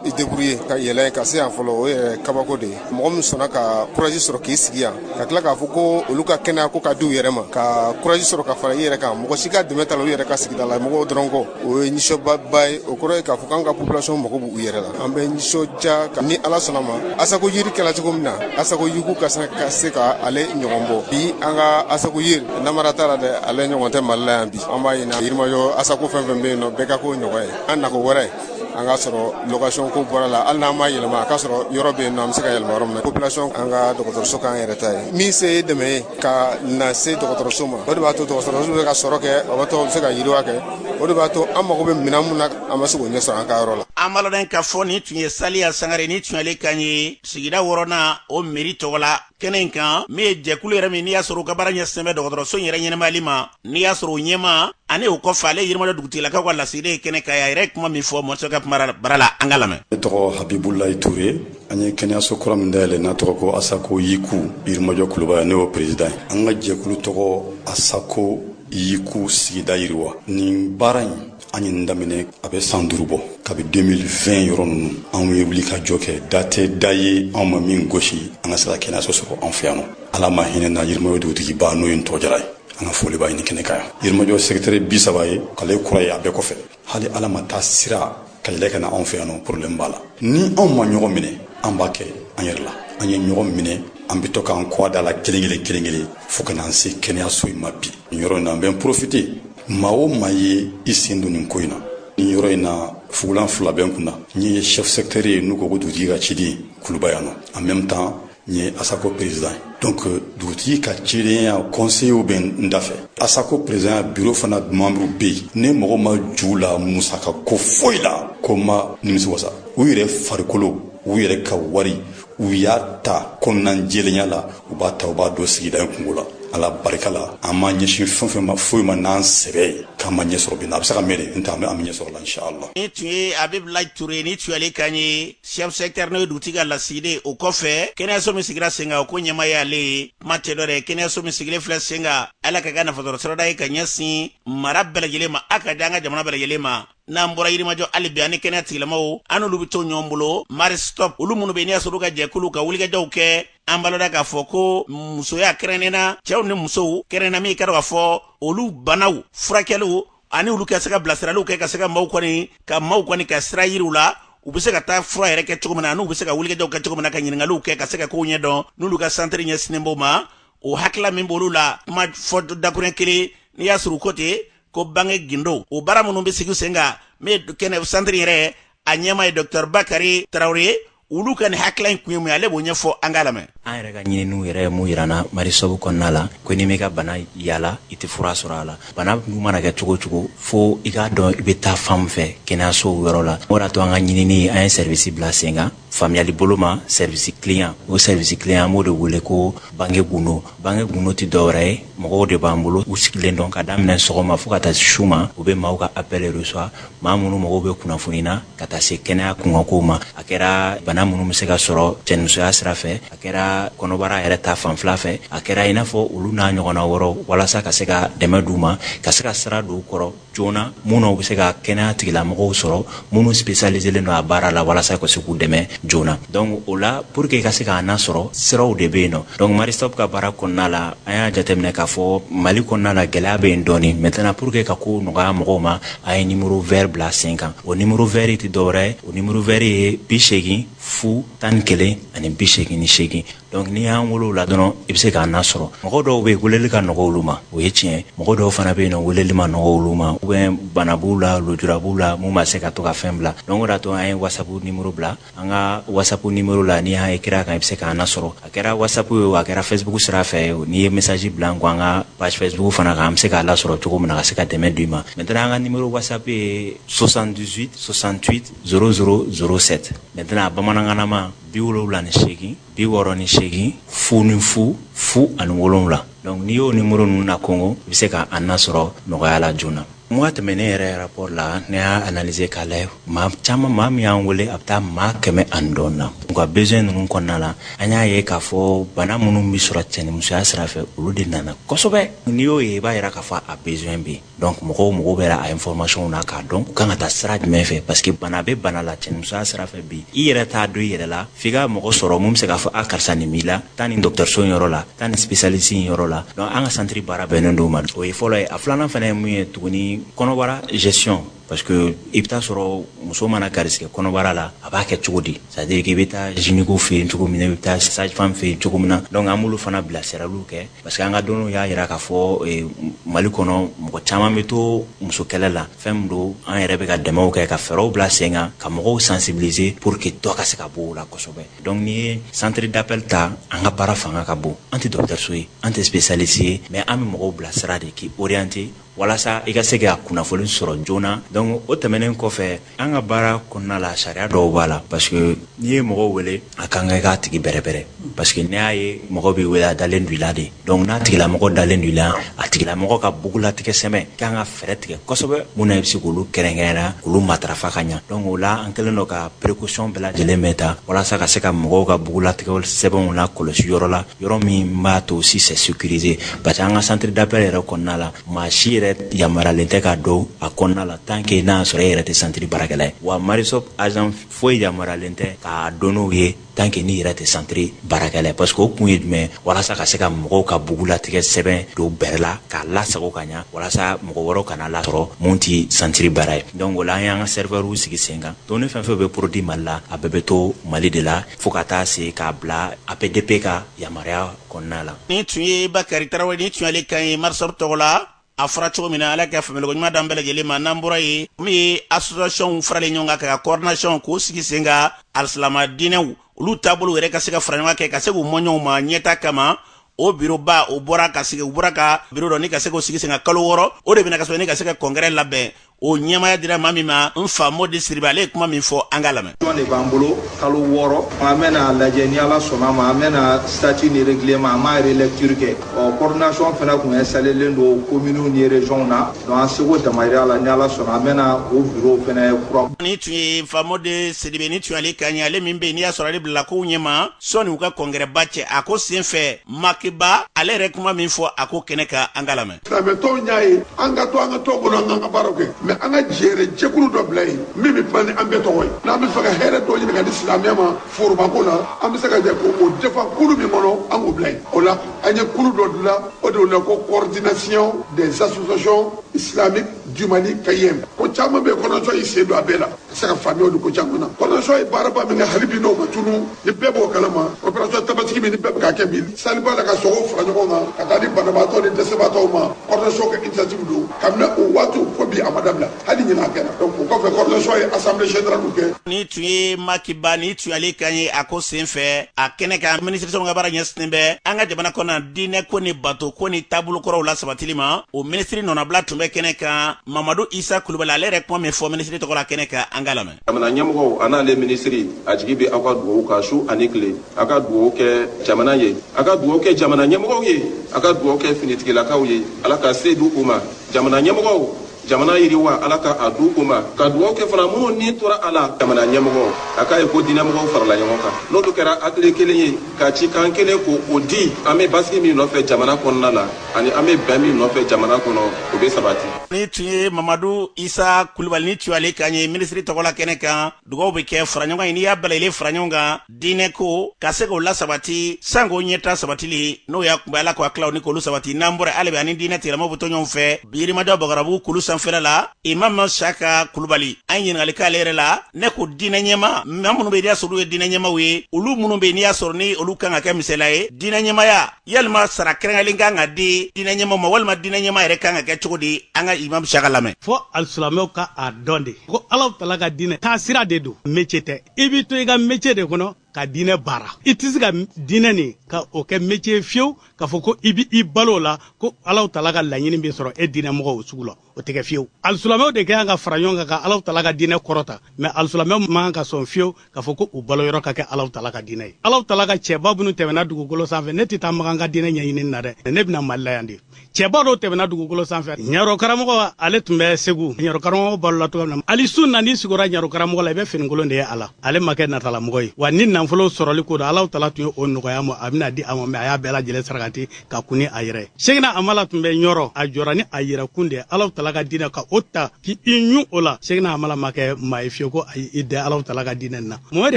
i debrouye ka yɛlɛ ka se yan fɔlɔ o yɛrɛ kabako de ye mɔgɔ min sɔnna ka kuraji sɔrɔ k'i sigi yan ka tila k'a fɔ ko olu ka kɛnɛya ko ka di u yɛrɛ ma ka kuraji sɔrɔ ka fara i yɛrɛ kan mɔgɔ si ka dɛmɛ t'a la u yɛrɛ ka sigida la mɔgɔw dɔrɔn kɔ o ye nisɔndiyaba ye o kɔrɔ ye k'a fɔ k'an ka population mago b'u yɛrɛ la an bɛ nisɔndiya ka ni ala sɔnna ma asako yiri kɛla cogo min na asako yiku ka se ka ale ɲɔgɔn bɔ bi an ka asako yiri namara t'a la dɛ ale ɲɔgɔn tɛ mali la yan bi an b'a ɲini yirimajɔ asako fɛn fɛn bɛ yen nɔ bɛɛ ka k'o ɲɔgɔn ye an nako wɛrɛ an k'a sɔrɔ location ko bɔr'a la hali n'an ma yɛlɛma an k'a sɔrɔ yɔrɔ bɛ yen nɔ an bɛ se ka yɛlɛma yɔrɔ min na population an ka dɔgɔtɔrɔso k'an yɛrɛ ta ye min se ye dɛmɛ ye ka na se dɔgɔtɔrɔso ma o de b'a to dɔgɔtɔrɔso bɛ se ka sɔrɔ kɛ o b'a to a bɛ se ka yiriwa kɛ o de b'a to an mago bɛ minɛn min na an bɛ se k'o ɲɛ sɔrɔ an ka yɔrɔ la an b'aw ladɔnniya k'a fɔ nin tun ye saliya sangare nin tun y'ale kan ye sigida wɔɔrɔnan o meri tɔgɔ la kɛnɛ in kan min ye jɛkulu yɛrɛ min n'i y'a sɔrɔ u ka baara ɲɛsinnen bɛ dɔgɔtɔrɔso in yɛrɛ ɲɛnamayali ma n'i y'a sɔrɔ o ɲɛmaa ani o kɔfɛ ale yirimajɔ dugutigilakaw ka lasigiden ye kɛnɛ kan a yɛrɛ ye kuma min fɔ mɔso ka kuma bara la an k'a lamɛn ne tɔgɔ habibulayi ture an ye kɛnɛyaso kura min dayɛlɛ n'a tɔgɔ ko asako yiku yirimajɔ kuluba yan ne y'o perezidan ye an ka jɛkulu tɔgɔ asako yiku sigida yiriwa nin baara in an ye nin daminɛ a bɛ san duuru bɔ kabi 2020 yɔrɔ ninnu anw ye wulikajɔ kɛ da tɛ da ye anw ma min gosi an ka se ka kɛnɛyaso sɔrɔ anw fɛ yan nɔ ala ma hinɛ na yirimajɔ dugutigiba n'o ye ntɔgɔ jara ye an ka foli b'a ye nin kɛnɛ kan yan yirimajɔ sɛkitɛri bi saba ye k'ale kura ye a bɛɛ kɔfɛ hali ala ma taa sira ka yɛlɛ ka na anw fɛ yan nɔ problème b'a la ni anw ma ɲɔgɔn minɛ an b'a kɛ an yɛrɛ la an ye ɲɔgɔn minɛ an bɛ to k'an kɔ da la kelen kelen kelen kelen fo ka n'an se kɛnɛyaso in ma bi nin yɔrɔ in na an bɛ n profite maa o maa ye i sen don nin ko in na nin yɔrɔ in na fugulan fila bɛ n kun na n ye chef secteur ye n'u ko ko dugutigi ka ciden kuluba yan nɔ en même temps n ye asako président ye donc euh, dugutigi ka cidenya conseillerw bɛ n da fɛ asako présidentya bureau fana membrew bɛ yen ne mɔgɔ ma ju la musaka ko foyi la ko n ma nimisi wasa u yɛrɛ farikolo u yɛrɛ ka wari u y'a ta kɔnɔna jɛlenya la u b'a ta u b'a don sigida in kungo la ala barika la an ma ɲɛsin fɛn fɛn ma foyi ma n'an sɛbɛ ye k'an ma ɲɛsɔrɔ bi na a bɛ se ka mɛɛn n tɛ an bɛ ɲɛsɔrɔ la inshallah nin tun ye abibulayi ture ye nin tun y'ale kan ye chef secteur n'o ye dugutigi ka lasigiden o kɔfɛ kɛnɛyaso min sigira sen kan o ko ɲɛmaa ye ale ye kuma tɛ dɔ dɛ kɛnɛyaso min sigilen filɛ sen kan ala ka kɛ nafasɔrɔsirada ye ka ɲɛsin mara bɛɛ lajɛlen ma a ka di an ka jamana bɛɛ lajɛlen ma n'an bɔra yirimajɔ hali bi ani kɛnɛya tigilamaaw an n'olu bɛ to ɲɔgɔn bolo maristop olu minnu bɛ n'i y'a sɔrɔ ka jɛkulu ka wulikajɔw kɛ an balola k'a fɔ ko musoya kɛrɛnnena cɛw ni musow kɛrɛnna min y'i k'a dɔn k'a fɔ olu banaw furakɛliw ani olu ka se ka bilasiraliw kɛ ka se ka maaw kɔni ka sira yira u la u bɛ se ka taa fura yɛrɛ kɛ cogo min na n'u bɛ se ka wulikajɔw kɛ cogo min na ka ɲininkaliw kɛ ka se ka kow ɲɛ dɔn n'olu ka santiri ɲɛsinnen b'o ma o hakilila min b'olu la kuma fɔ dakuruɲɛ kelen n'i y'a sɔrɔ u ko ten ko bange gindo o baara minnu bɛ sigi sen kan min ye kɛnɛya santiri yɛrɛ a ɲɛmaa ye dɔkitɛri bakari tarawele ye olu ka nin hakilila in kun ye mun ye ale b'o ɲɛfɔ an k'a lamɛn an yɛrɛ ka ɲininiw yɛrɛ ye min yira an na maristop kɔnɔna la ko n'i m'i ka bana yaala i tɛ fura sɔrɔ a la bana dun mana kɛ cogo o cogo fo i k'a dɔn i bɛ taa fan min fɛ kɛnɛyasow yɔrɔ la o de y'a to an ka ɲinini an ye sɛribisi bila sen kan faamuyali bolo ma sɛrivisi kileyan o sɛrivisi kileyan an b'o de wele ko bange gundo bange gundo tɛ dɔwɛrɛ ye mɔgɔw de b'an bolo u sigilen don ka daminɛ sɔgɔma fo ka taa su ma u bɛ maaw ka appel reçoit maa minnu mago bɛ kunnafoni na ka taa se kɛnɛya kunkankow ma a kɛra bana minnu bɛ se ka sɔrɔ cɛnimusoya sira fɛ a kɛra kɔnɔbara yɛrɛ ta fanfɛla fɛ a kɛra i n'a fɔ olu n'a ɲɔgɔnna wɛrɛ walasa ka se ka dɛmɛ d'u ma ka se ka sira don u kɔrɔ joona minnu bɛ se ka kɛnɛya tigilamɔgɔw sɔrɔ minnu spécialiselen don a baara la walasa ka se k'u dɛmɛ joona donc o la pour que ka se k'an nasɔrɔ siraw de bɛ yen nɔ donc Maristop ka baara kɔnɔna la an y'a jateminɛ k'a fɔ Mali kɔnɔna la gɛlɛya bɛ yen dɔɔni maintenant pour que ka ko nɔgɔya mɔgɔw ma an ye numéro vert bila sen kan o numéro vert tɛ dɔwɛrɛ ye o numéro vert ye bi seegin fu tan ni kelen ani bi seegin ni seegin donc n'i y'an wele o la dɔrɔn i bɛ se k'an nasɔrɔ mɔgɔ dɔw bɛ yen weleli ka nɔgɔ olu ma o ye tiɲɛ mɔgɔ dɔw fana bɛ yen weleli ma nɔgɔ olu ma ou bien bana b'u la lujura b'u la min ma se ka to ka fɛn bila donc o de y'a to an ye WhatsApp numéro bila an ka WhatsApp numéro la n'i y'a écrit a kan i bɛ se k'an nasɔrɔ a kɛra WhatsApp ye a kɛra Facebook sira fɛ o n'i ye message bila an ko an ka page Facebook fana kan an bɛ se k'a lasɔrɔ cogo min na ka se ka dɛmɛ d'i ma maintenant an ka numéro WhatsApp ye soixante-dix-huit soixante-huit zéro zéro zéro sept maintenant bamanankanma bi wolonwula ni seegin bi wɔɔrɔ ni seegin fu ni fu fu ani wolonwula donc n'i y'o nimoro ninnu na kongo i bɛ se ka an nasɔrɔ nɔgɔya la joona mois tɛmɛnen yɛrɛ rapport la ne y'a analyser k'a lajɛ maa caman maa min y'an wele a bɛ taa maa kɛmɛ ani dɔɔni na u ka besoin ninnu kɔnɔna la an y'a ye k'a fɔ bana minnu bɛ sɔrɔ cɛnimusoya sira fɛ olu de nana kosɛbɛ n'i y'o ye i b'a yira k'a fɔ a besoin bɛ yen donc mɔgɔw mago bɛ a information na k'a dɔn u kan ka taa sira jumɛn fɛ parce que bana bɛ bana la cɛnimusoya sira fɛ bi i yɛrɛ t'a dɔn i yɛrɛ la f'i ka mɔgɔ sɔrɔ min bɛ se k'a fɔ a karisa nin b'i la taa nin dɔgɔtɔrɔso in yɔrɔ la taa nin spécialiste in yɔrɔ la donc an ka centre baara bɛnnen don o ma o ye fɔlɔ ye a filanan fana ye mun ye tuguni kɔnɔbara gestion parce que i bɛ taa sɔrɔ muso mana garisigɛ kɔnɔbara la a b'a kɛ cogo di c'est à dire k'i bɛ taa gynéco fɛ yen cogo min na i bɛ taa sage femme fɛ yen cogo min na donc an b'olu fana bilasiraliw kɛ parce que an ka dɔnniw y'a yira k'a fɔ eh, mali kɔnɔ mɔgɔ caman bɛ to musokɛlɛ la fɛn min don an yɛrɛ bɛ ka dɛmɛw kɛ ka fɛɛrɛw bila sen kan ka mɔgɔw sensibiliser pour que dɔ ka se ka bɔ o la kosɛbɛ donc n'i ye centre d'appel ta an ka baara fanga ka bon an tɛ dɔgɔtɔrɔso ye an tɛ spécialiste ye mais an bɛ mɔgɔw bilasira de k'i orienter walasa i ka se ka kunnafoni sɔrɔ joona donc o tɛmɛnen kɔfɛ an ka baara kɔnɔna la sariya dɔw b'a la parce que n'i ye mɔgɔw wele a ka kan i k'a tigi bɛrɛbɛrɛ parce que n'i y'a ye mɔgɔ b'i wele a dalen don i la de donc n'a tigilamɔgɔ dalen don i la a tigilamɔgɔ ka bugulatigɛ sɛbɛn k'an ka fɛɛrɛ tigɛ kosɛbɛ mun na i bɛ se k'olu kɛrɛnkɛrɛnya k'olu matarafa ka ɲa donc o la an kɛlen don ka précaution bɛɛ lajɛlen bɛ ta walasa ka se ka mɔgɔw ka bugulatigɛ sɛbɛnw lakɔlɔsi yɔrɔ la yɔrɔ min b'a to si c'est sécurisé parce que an ka centre d'appel yɛrɛ kɔnɔna la maa si yɛrɛ yamaralen tɛ ka don a kɔnɔna la tant que n'a sɔrɔ e yɛrɛ tɛ centre baarakɛla ye wa marie stopes agent foyi yamaralen tɛ ka don yen tant que n'i yɛrɛ tɛ centre baarakɛla ye parce que o kun ye jumɛn walasa ka se ka mɔgɔw ka bugulatigɛ sɛbɛn don bɛrɛ la k'a lasago ka ɲa walasa mɔgɔ wɛrɛw kan'a lasɔrɔ mun ti centre baara ye donc o la an y'an ka serveur sigi sen kan donc ni fɛn fɛn bɛ produit mali la a bɛɛ bɛ to mali de la fo ka taa se k'a bila apdp ka yamaruya kɔnɔna la nin tun ye bakari tarawele nin tun y'ale kan ye marie stopes tɔgɔ la a fɔra cogo min na ala ka faamuyali ɲuman d'an bɛɛ lajɛlen ma n'an bɔra yen min ye associationw faralen ɲɔgɔn kan ka coordination k'o sigi sen kan alisilama diinɛw olu taabolo yɛrɛ ka se ka fara ɲɔgɔn kan ka se k'u mɔɲɔgɔnw ma ɲɛtaa kama o bureau ba o bɔra ka sigi u bɔra ka bureau dɔ ka se k'o sigi sen kan kalo wɔɔrɔ o de bɛna ka sɔrɔ ne ka se ka congrès labɛn o ɲɛmaaya dira maa min ma n fa mɔdi sidibe ale ye kuma min fɔ an k'a lamɛn jɔn de b'an bolo kalo wɔɔrɔ an bɛna lajɛ ni ala sɔnn'a ma an bɛna statut ni règlement an b'a relecture kɛ ɔ coordination fana tun installelen don kominiw ni regionw na donc an seko damayira la ni ala sɔnna an bɛna o bureau fana kura nin tun ye fa mɔdi sidibe nin tun y'ale kan ye ale min bɛ yen n'i y'a sɔrɔ ale bilala kow ɲɛma sɔni u ka congrès ba cɛ a ko sen fɛ makiba ale yɛrɛ kuma min fɔ a ko kɛnɛ kan an k'a lamɛn Silamɛtɔnw y'a ye an ka to an ka tɔn kɔnɔ an ka baara kɛ mais an ka jɛɛrɛ jɛkulu dɔ bila yen min bɛ kuma ni an bɛɛ tɔgɔ ye n'an bɛ fɛ ka hɛrɛ dɔ ɲini ka di silamɛya ma forobako la an bɛ se ka jɛ ko o defa kulu min kɔnɔ an k'o bila yen o la an ye kulu dɔ dilan o de la ko coordination des associations islamiques du Mali CAIM ko caman bɛ coordination y'i sen don a bɛɛ la se ka faamuya di ko caman na coordination ye baaraba min kɛ hali bi nɔ ma tunu ni bɛɛ b'o kalama opération tabaski min ni bɛɛ bɛ ka kɛ bi saliba la ka sogo fara ɲɔgɔn kan ka taa di banabaatɔ ni dɛsɛbaatɔw ma coordination ka initiative don kabini o waati fo bi a ma dabila hali ɲinan a kɛra donc o kɔfɛ coordination ye assemblée générale kɛ nin tun ye maki ba nin tun y'ale kan ye a ko senfɛ a kɛnɛ kan minisiriso min ka baara ɲɛsinnen bɛ an ka jamana kɔnɔ diinɛ ko ni bato ko ni taabolo kɔrɔw lasabatili ma o minisiri nɔnabila tun bɛ kɛnɛ kan mamadu isa kulubali ale yɛrɛ kuma min fɔ minisiri tɔgɔ la kɛnɛ kan an ka lamɛn jamana ɲɛmɔgɔw an'ale minisiri a jigi bɛ aw ka dugawu kan su ani tile a ka dugawu kɛ jamana ye a ka dugawu kɛ jamana ɲɛmɔgɔw ye a ka dugawu kɛ finitigilakaw ye ala ka se di u ma jamana ɲɛmɔgɔw jamana yiriwa ala ka a di u ma ka dugawu kɛ fana minnu ni tora a la jamana ɲɛmɔgɔw a k'a ye ko diinɛmɔgɔw farala ɲɔgɔn kan n'olu kɛra hakili kelen ye ka cikan kelen ko o di an bɛ basigi min nɔfɛ jamana kɔnɔna la ani an bɛ bɛn min nɔfɛ jamana kɔnɔ o bɛ sabati nin tun ye mamadu isa kulubali nin tun y'ale kan ye minisiri tɔgɔla kɛnɛ kan dugaw bɛ kɛ faraɲɔgɔnkan ye n'i y'a bɛlɛlen faraɲɔgɔn kan diinɛ ko ka se k'o lasabati sank'o ɲɛtaa sabatili n'o y'a kunba ye ala ka hakililaw nin k'olu sabati n'an bɔra hali bi an ni diinɛ tigilamaw bɛ to ɲɔgɔn fɛ yirimajɔ bagarabugu kulu sanfɛla la imamu saka kulubali an ye ɲininkali k'ale yɛrɛ la ne ko diinɛ ɲɛmaa maa minnu bɛ n'i y'a sɔrɔ olu ye diinɛ ɲɛmaaw ye olu minnu bɛ n'i y'a sɔrɔ ni olu kan ka kɛ misali ye diinɛ ɲɛmaaya yalima sara kɛrɛnkɛrɛnlen kan ka di diinɛ ɲɛmaa ma walima diinɛ ɲɛmaa yɛrɛ kan ka kɛ cogo di an ka imam saka lamɛn fo alisilamɛw ka a dɔn de ko alahu taala ka diinɛ taa sira de don métier tɛ i b'i to i ka métier de kɔnɔ ka diinɛ baara i tɛ se ka diinɛ nin ka o kɛ métier fiyewu k'a fɔ ko i bɛ i balo o la ko alahu taala ka laɲini bɛ sɔrɔ e diinɛ mɔgɔ sugu la o tɛ kɛ fiyewu alisilamɛw de ka kan ka fara ɲɔgɔn kan ka alahu taala ka diinɛ kɔrɔta mais alisilamɛw man kan ka sɔn fiyewu k'a fɔ ko u baloyɔrɔ ka kɛ alahu taala ka diinɛ ye alahu taala ka cɛba minnu tɛmɛna dugukolo sanfɛ ne tɛ taa makan ka diinɛ ɲɛɲinini na dɛ ne bɛna mali la yan de cɛba dɔw tɛmɛna dugukolo sanfɛ ɲarɔ karamɔgɔ ale tun bɛ segu ɲarɔ karamɔgɔ balola cogoya min na hali su na n'i sigora ɲarɔ karamɔgɔ la i bɛ finikolon de ye a la ale ma kɛ natalamɔgɔ ye wa ni nafolo sɔrɔli ko don alahu taala tun ye o nɔgɔya a ma a bɛna di a ma mais a y'a bɛɛ lajɛlen sarakati ka kun ni a yɛrɛ sekina hamala tun bɛ ɲɔrɔ a jɔra ni a yɛrɛ kun de alahu taala ka diinɛ ka o ta k'i ɲun o la sekina hamala ma kɛ maa ye fiyewu ko a y'i dɛ alahu taala ka diinɛ na momɛdi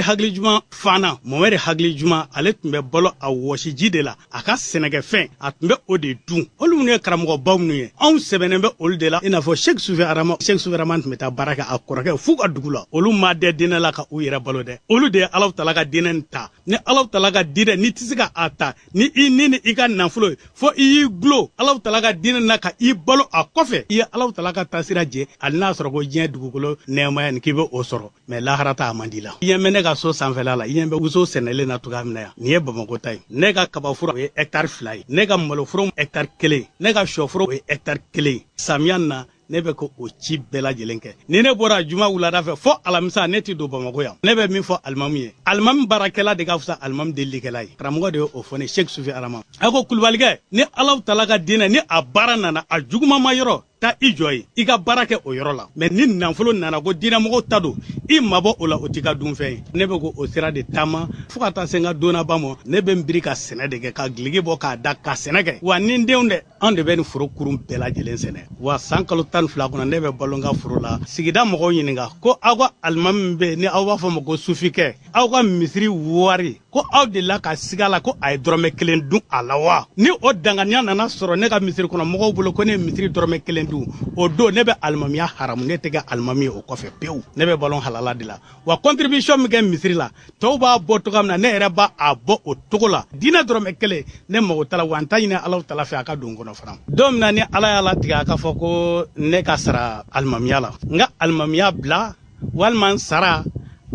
hakili juman fana momɛdi hakili juman ale tun bɛ balo a wɔsiji de la a ka sɛnɛkɛfɛn a tun bɛ o de dun olu minnu ye karamɔgɔbaw minnu ye anw sɛmɛnen bɛ olu de la i n'a fɔ sek sufi adama sek sufi adama tun bɛ taa baara kɛ a kɔrɔkɛ fɛ u ka dugu la olu ma dɛ diinɛ la ka u yɛrɛ balo dɛ olu de ye alahu taala ka diinɛ ta ni alaw tala ka diinɛ n'i tɛ se ka a ta ni i ni ni i ka nafolo ye fo i y'i gulo alaw tala ka diinɛ na ka i balo a kɔfɛ i ye alaw tala ka taasira jɛ hali n'a sɔrɔ ko diɲɛ dugukolo nɛɛmaya nin k'i bɛ o sɔrɔ mais lahara ta a man di la i ɲɛ bɛ ne ka so sanfɛla la i ɲɛ bɛ woso sɛnɛlen na cogoya min na yan nin ye bamakɔ ta ye ne ka kabaforo o ye hɛkitari fila ye ne ka maloforo hɛkitari kelen ne ka shɔforo o ye hɛkitari kelen samiya na ne bɛ ko o ci bɛɛ lajɛlen kɛ ni ne bɔra juma wulada fɛ fo alamisa ne tɛ don bamakɔ yan ne bɛ min fɔ alimamu ye alimamu baarakɛla de ka fisa alimamu delikɛla ye karamɔgɔ de ye o fɔ n ye sheikh sufi adama a ko kulubalikɛ ni alaw tala ka diinɛ ni a baara nana a juguma ma yɔrɔ taa i jɔ ye i ka baara kɛ o yɔrɔ la mais ni nafolo nana ko diinɛmɔgɔw ta don i mabɔ o la o t'i ka dunfɛn ye ne bɛ ko o sira de taama fɔɔ ka taa se n ka don laban ma ne bɛ n biri ka sɛnɛ de kɛ ka giligi bɔ k'a da ka sɛnɛ kɛ wa ni n denw dɛ anw de bɛ nin foro kurun bɛɛ lajɛlen sɛnɛ wa san kalo tan fila kɔnɔ ne bɛ balo n ka foro la sigida mɔgɔw ɲininka ko aw ka alimami min bɛ ni aw b'a fɔ ma ko sufikɛ aw ka misiri wari ko aw de la ka siga la ko a ye dɔrɔmɛ kelen dun a la wa ni o danganiya nana sɔrɔ ne ka misiri kɔnɔ mɔgɔw bolo ko ne ye misiri dɔrɔmɛ kelen dun o don ne bɛ alimamiya haramu ne tɛ kɛ alimami ye o kɔfɛ pewu ne bɛ balo halala de la wa contribution min kɛ misiri la tɔw b'a bɔ cogoya min na ne yɛrɛ b'a bɔ o cogo la diinɛ dɔrɔmɛ kelen ne mago t'a la wa n t'a ɲini alaw tala fɛ a ka don n kɔnɔ fana don min na ni ala y'a latigɛ a k'a fɔ ko ne ka sara alimamiya la n ka alimamiya bila walima n sara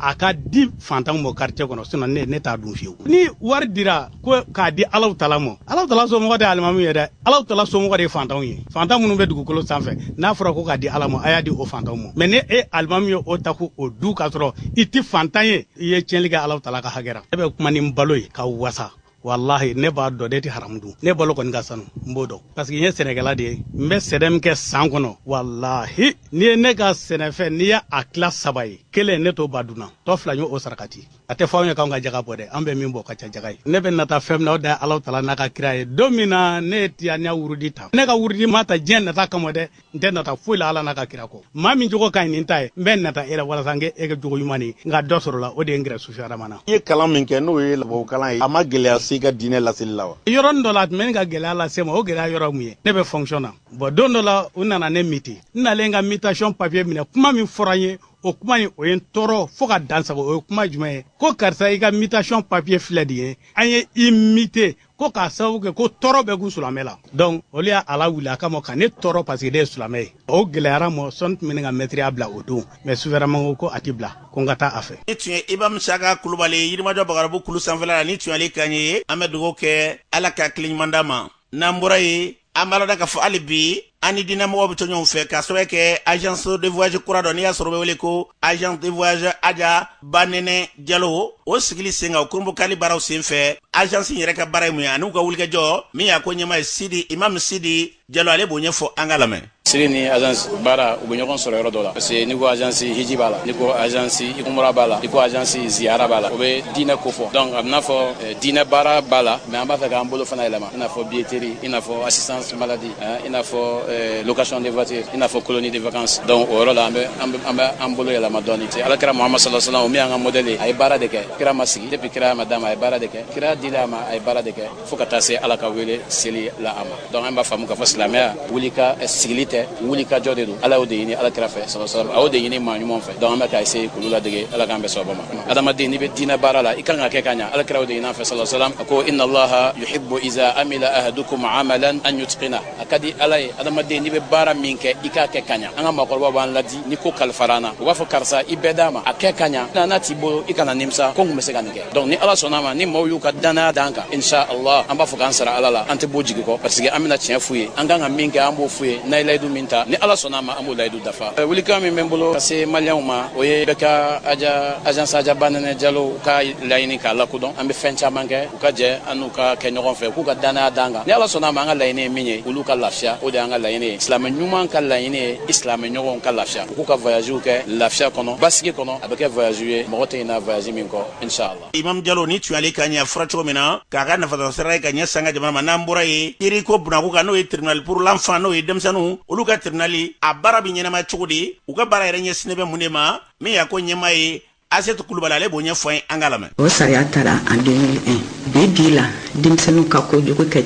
a ka di fantanw mɔ quartier kɔnɔ sinon ne t'a dun fiyewu ni wari dira ko k'a di alaw tala mɔ alaw tala somɔgɔ tɛ alimamu ye dɛ alaw tala somɔgɔ de ye fantanw ye fantan minnu bɛ dugukolo sanfɛ n'a fɔra ko k'a di ala ma a y'a di o fantanw ma mais ni e alimami ye o ta k'o dun k'a sɔrɔ i tɛ fantan ye i ye tiɲɛli kɛ alaw tala ka hakɛ ra ne bɛ kuma ni n balo ye ka wasa walahi ne b'a dɔn ne tɛ haramu dun ne balo kɔni ka sanu n b'o dɔn parce que n ye sɛnɛkɛla de ye n bɛ sɛnɛ min kɛ san kɔnɔ walahi n'i ye ne ka sɛnɛfɛn n'i y'a tila saba ye kelen ne t'o ban dunna tɔ fila n y'o sarakati a tɛ fɔ anw ye k'anw ka jaga bɔ dɛ an bɛ min bɔ ka ca jaga ye ne bɛ nata fɛn min na o da ala tala n'a ka kira ye don min na ne ye tijaniya wurudi ta ne ka wurudi ma ta diɲɛ nata kama dɛ n tɛ nata foyi la ala n'a ka kira kɔ maa min jogo ka ɲi ni n ta ye n bɛ nata e la walasa n kɛ e ka jogo ɲuman ye n ka dɔ sɔrɔ a la o de ye n gɛrɛ sufi adama na i ye kalan min kɛ n'o ye labaw kalan ye a ma gɛlɛya se i ka diinɛ laseli la wa yɔrɔnin dɔ la a tun bɛ ne ka gɛlɛya lase n ma o gɛlɛya yɔrɔ mun ye ne bɛ fonction na bon don dɔ la u nana ne muter n nalen ka mutation papier minɛ kuma min fɔra n ye o kuma in o ye n tɔɔrɔ fɔɔ ka dansago o ye kuma jumɛn ye ko karisa i ka mutation papier filɛ nin ye an ye i muter ko k'a sababu kɛ ko tɔɔrɔ bɛ kun sulamɛ la donc olu y'a lawuli a kama ka ne tɔɔrɔ parce que ne ye sulamɛ ye o gɛlɛyara n mɔ sɔɔni tun bɛ ne ka mɛtiriya bila o don mais sufi adama ko ko a tɛ bila ko n ka taa a fɛ nin tun ye imam isaka kulubali yirimajɔ bagarabu kulu sanfɛla la nin tun y'ale kan ye an bɛ dugawu kɛ ala ka kiliɲuman d'a ma n'an bɔra ye an b'a lada ka fɔ hali bi an ni diinɛmɔgɔw bɛ to ɲɔgɔn fɛ k'a sababu kɛ agence de voyage kura dɔ n'i y'a sɔrɔ bɛ wele ko agence de voyage aja banɛnɛ jalo o sigili sen kan o kurunbonkari baaraw sen fɛ agence in yɛrɛ ka baara ye mun ye ani u ka wulikajɔ min y'a ko ɲɛmaa ye sidi imam sidi jalo ale b'o ɲɛfɔ an ka lamɛn siri ni agence baara u bɛ ɲɔgɔn sɔrɔ yɔrɔ dɔ la parce que n'i ko agence hiji b'a la n'i ko agence umura b'a la n'i ko agence ziyara b'a la o bɛ diinɛ ko fɔ donc a bɛna fɔ eh, diinɛ baara b'a la mais an b'a fɛ k'an bolo fana yɛlɛma i n'a fɔ billetterie i n'a fɔ assistance maladie eh, i n'a fɔ eh, location de voiture i n'a fɔ colonie de vacances donc o yɔrɔ la an bɛ an bɛ an bolo yɛlɛma dɔɔni te ala kira muhamadu sallallahu alaihi wasallam o min y'an ka modèle ye a ye baara de kɛ kira ma sigi depuis kiraya ma d'a ma a ye baara de kɛ kiraya dila a ma a ye baara de kɛ fo ka taa se ala ka wele seli la a ma donc an b'a faamu k'a fɔ silamɛya wuli ka eh, sigili tɛ wuli ka jɔ de don ala y'o de ɲini ala kira fɛ sala salam a y'o de ɲini maa ɲumanw fɛ donc an bɛ ka essayer k'olu ladege ala k'an bɛɛ sababa ma adamaden n'i bɛ diinɛ baara la i kan k'a kɛ ka ɲa ala kira y'o de ɲini an fɛ sala salam a ko inna allaha yuhibbu iza amila ahadukum amalan an yutqina a ka di ala ye adamaden n'i bɛ baara min kɛ i k'a kɛ ka ɲa an ka maakɔrɔbaw b'an ladi ni ko kalifara an na u b'a fɔ karisa i bɛɛ d'a ma a kɛ ka ɲa na n'a t'i bolo i kana nimisa ko n kun bɛ se ka nin kɛ donc ni ala sɔnna ma ni maaw y'u ka dannaya d'an kan insha allah an b'a fɔ k'an sara ala la an tɛ b'u jigi kɔ parce que an bɛna tiɲɛ f'u ye an kan ka min kɛ an b'o f'u ye n'an ye layidu min ta ni ala sɔnna ma an b'o layidu dafa welekan min bɛ n bolo ka se maliyɛnw ma o ye bɛɛ ka aja agence aja banɛnɛ jalo ka laɲini k'a lakodɔn an bɛ fɛn caman kɛ u ka jɛ an n'u ka kɛ ɲɔgɔn fɛ u k'u ka dannaya d'an kan ni ala sɔnna ma an ka laɲini ye min ye olu ka lafiya o de y'an ka laɲini ye silamɛ ɲuman ka laɲini ye i silamɛ ɲɔgɔnw ka lafiya u k'u ka voyagew kɛ lafiya kɔnɔ basigi kɔnɔ a bɛ kɛ voyage ye mɔgɔ tɛ ɲinɛ voyage min kɔ inshallah imam jalo nin tun y'ale kan ye a fɔra cogo min na k'a ka nafasɔrɔsira ye ka ɲɛsin an ka jamana ma n'an bɔra ye kiri ko bunaku kan n'o ye tribunal pour l'enfant n'o ye denmisɛnninw olu ka tribunali a baara bɛ ɲɛnamaya cogo di u ka baara yɛrɛ ɲɛsinnen bɛ mun de ma min y'a ko ɲɛmaa ye asetu kulubali ale b'o ɲɛfɔ an ye an ka lamɛn o sariya tara en 2001 bi bi la denmisɛnninw ka kojugu kɛ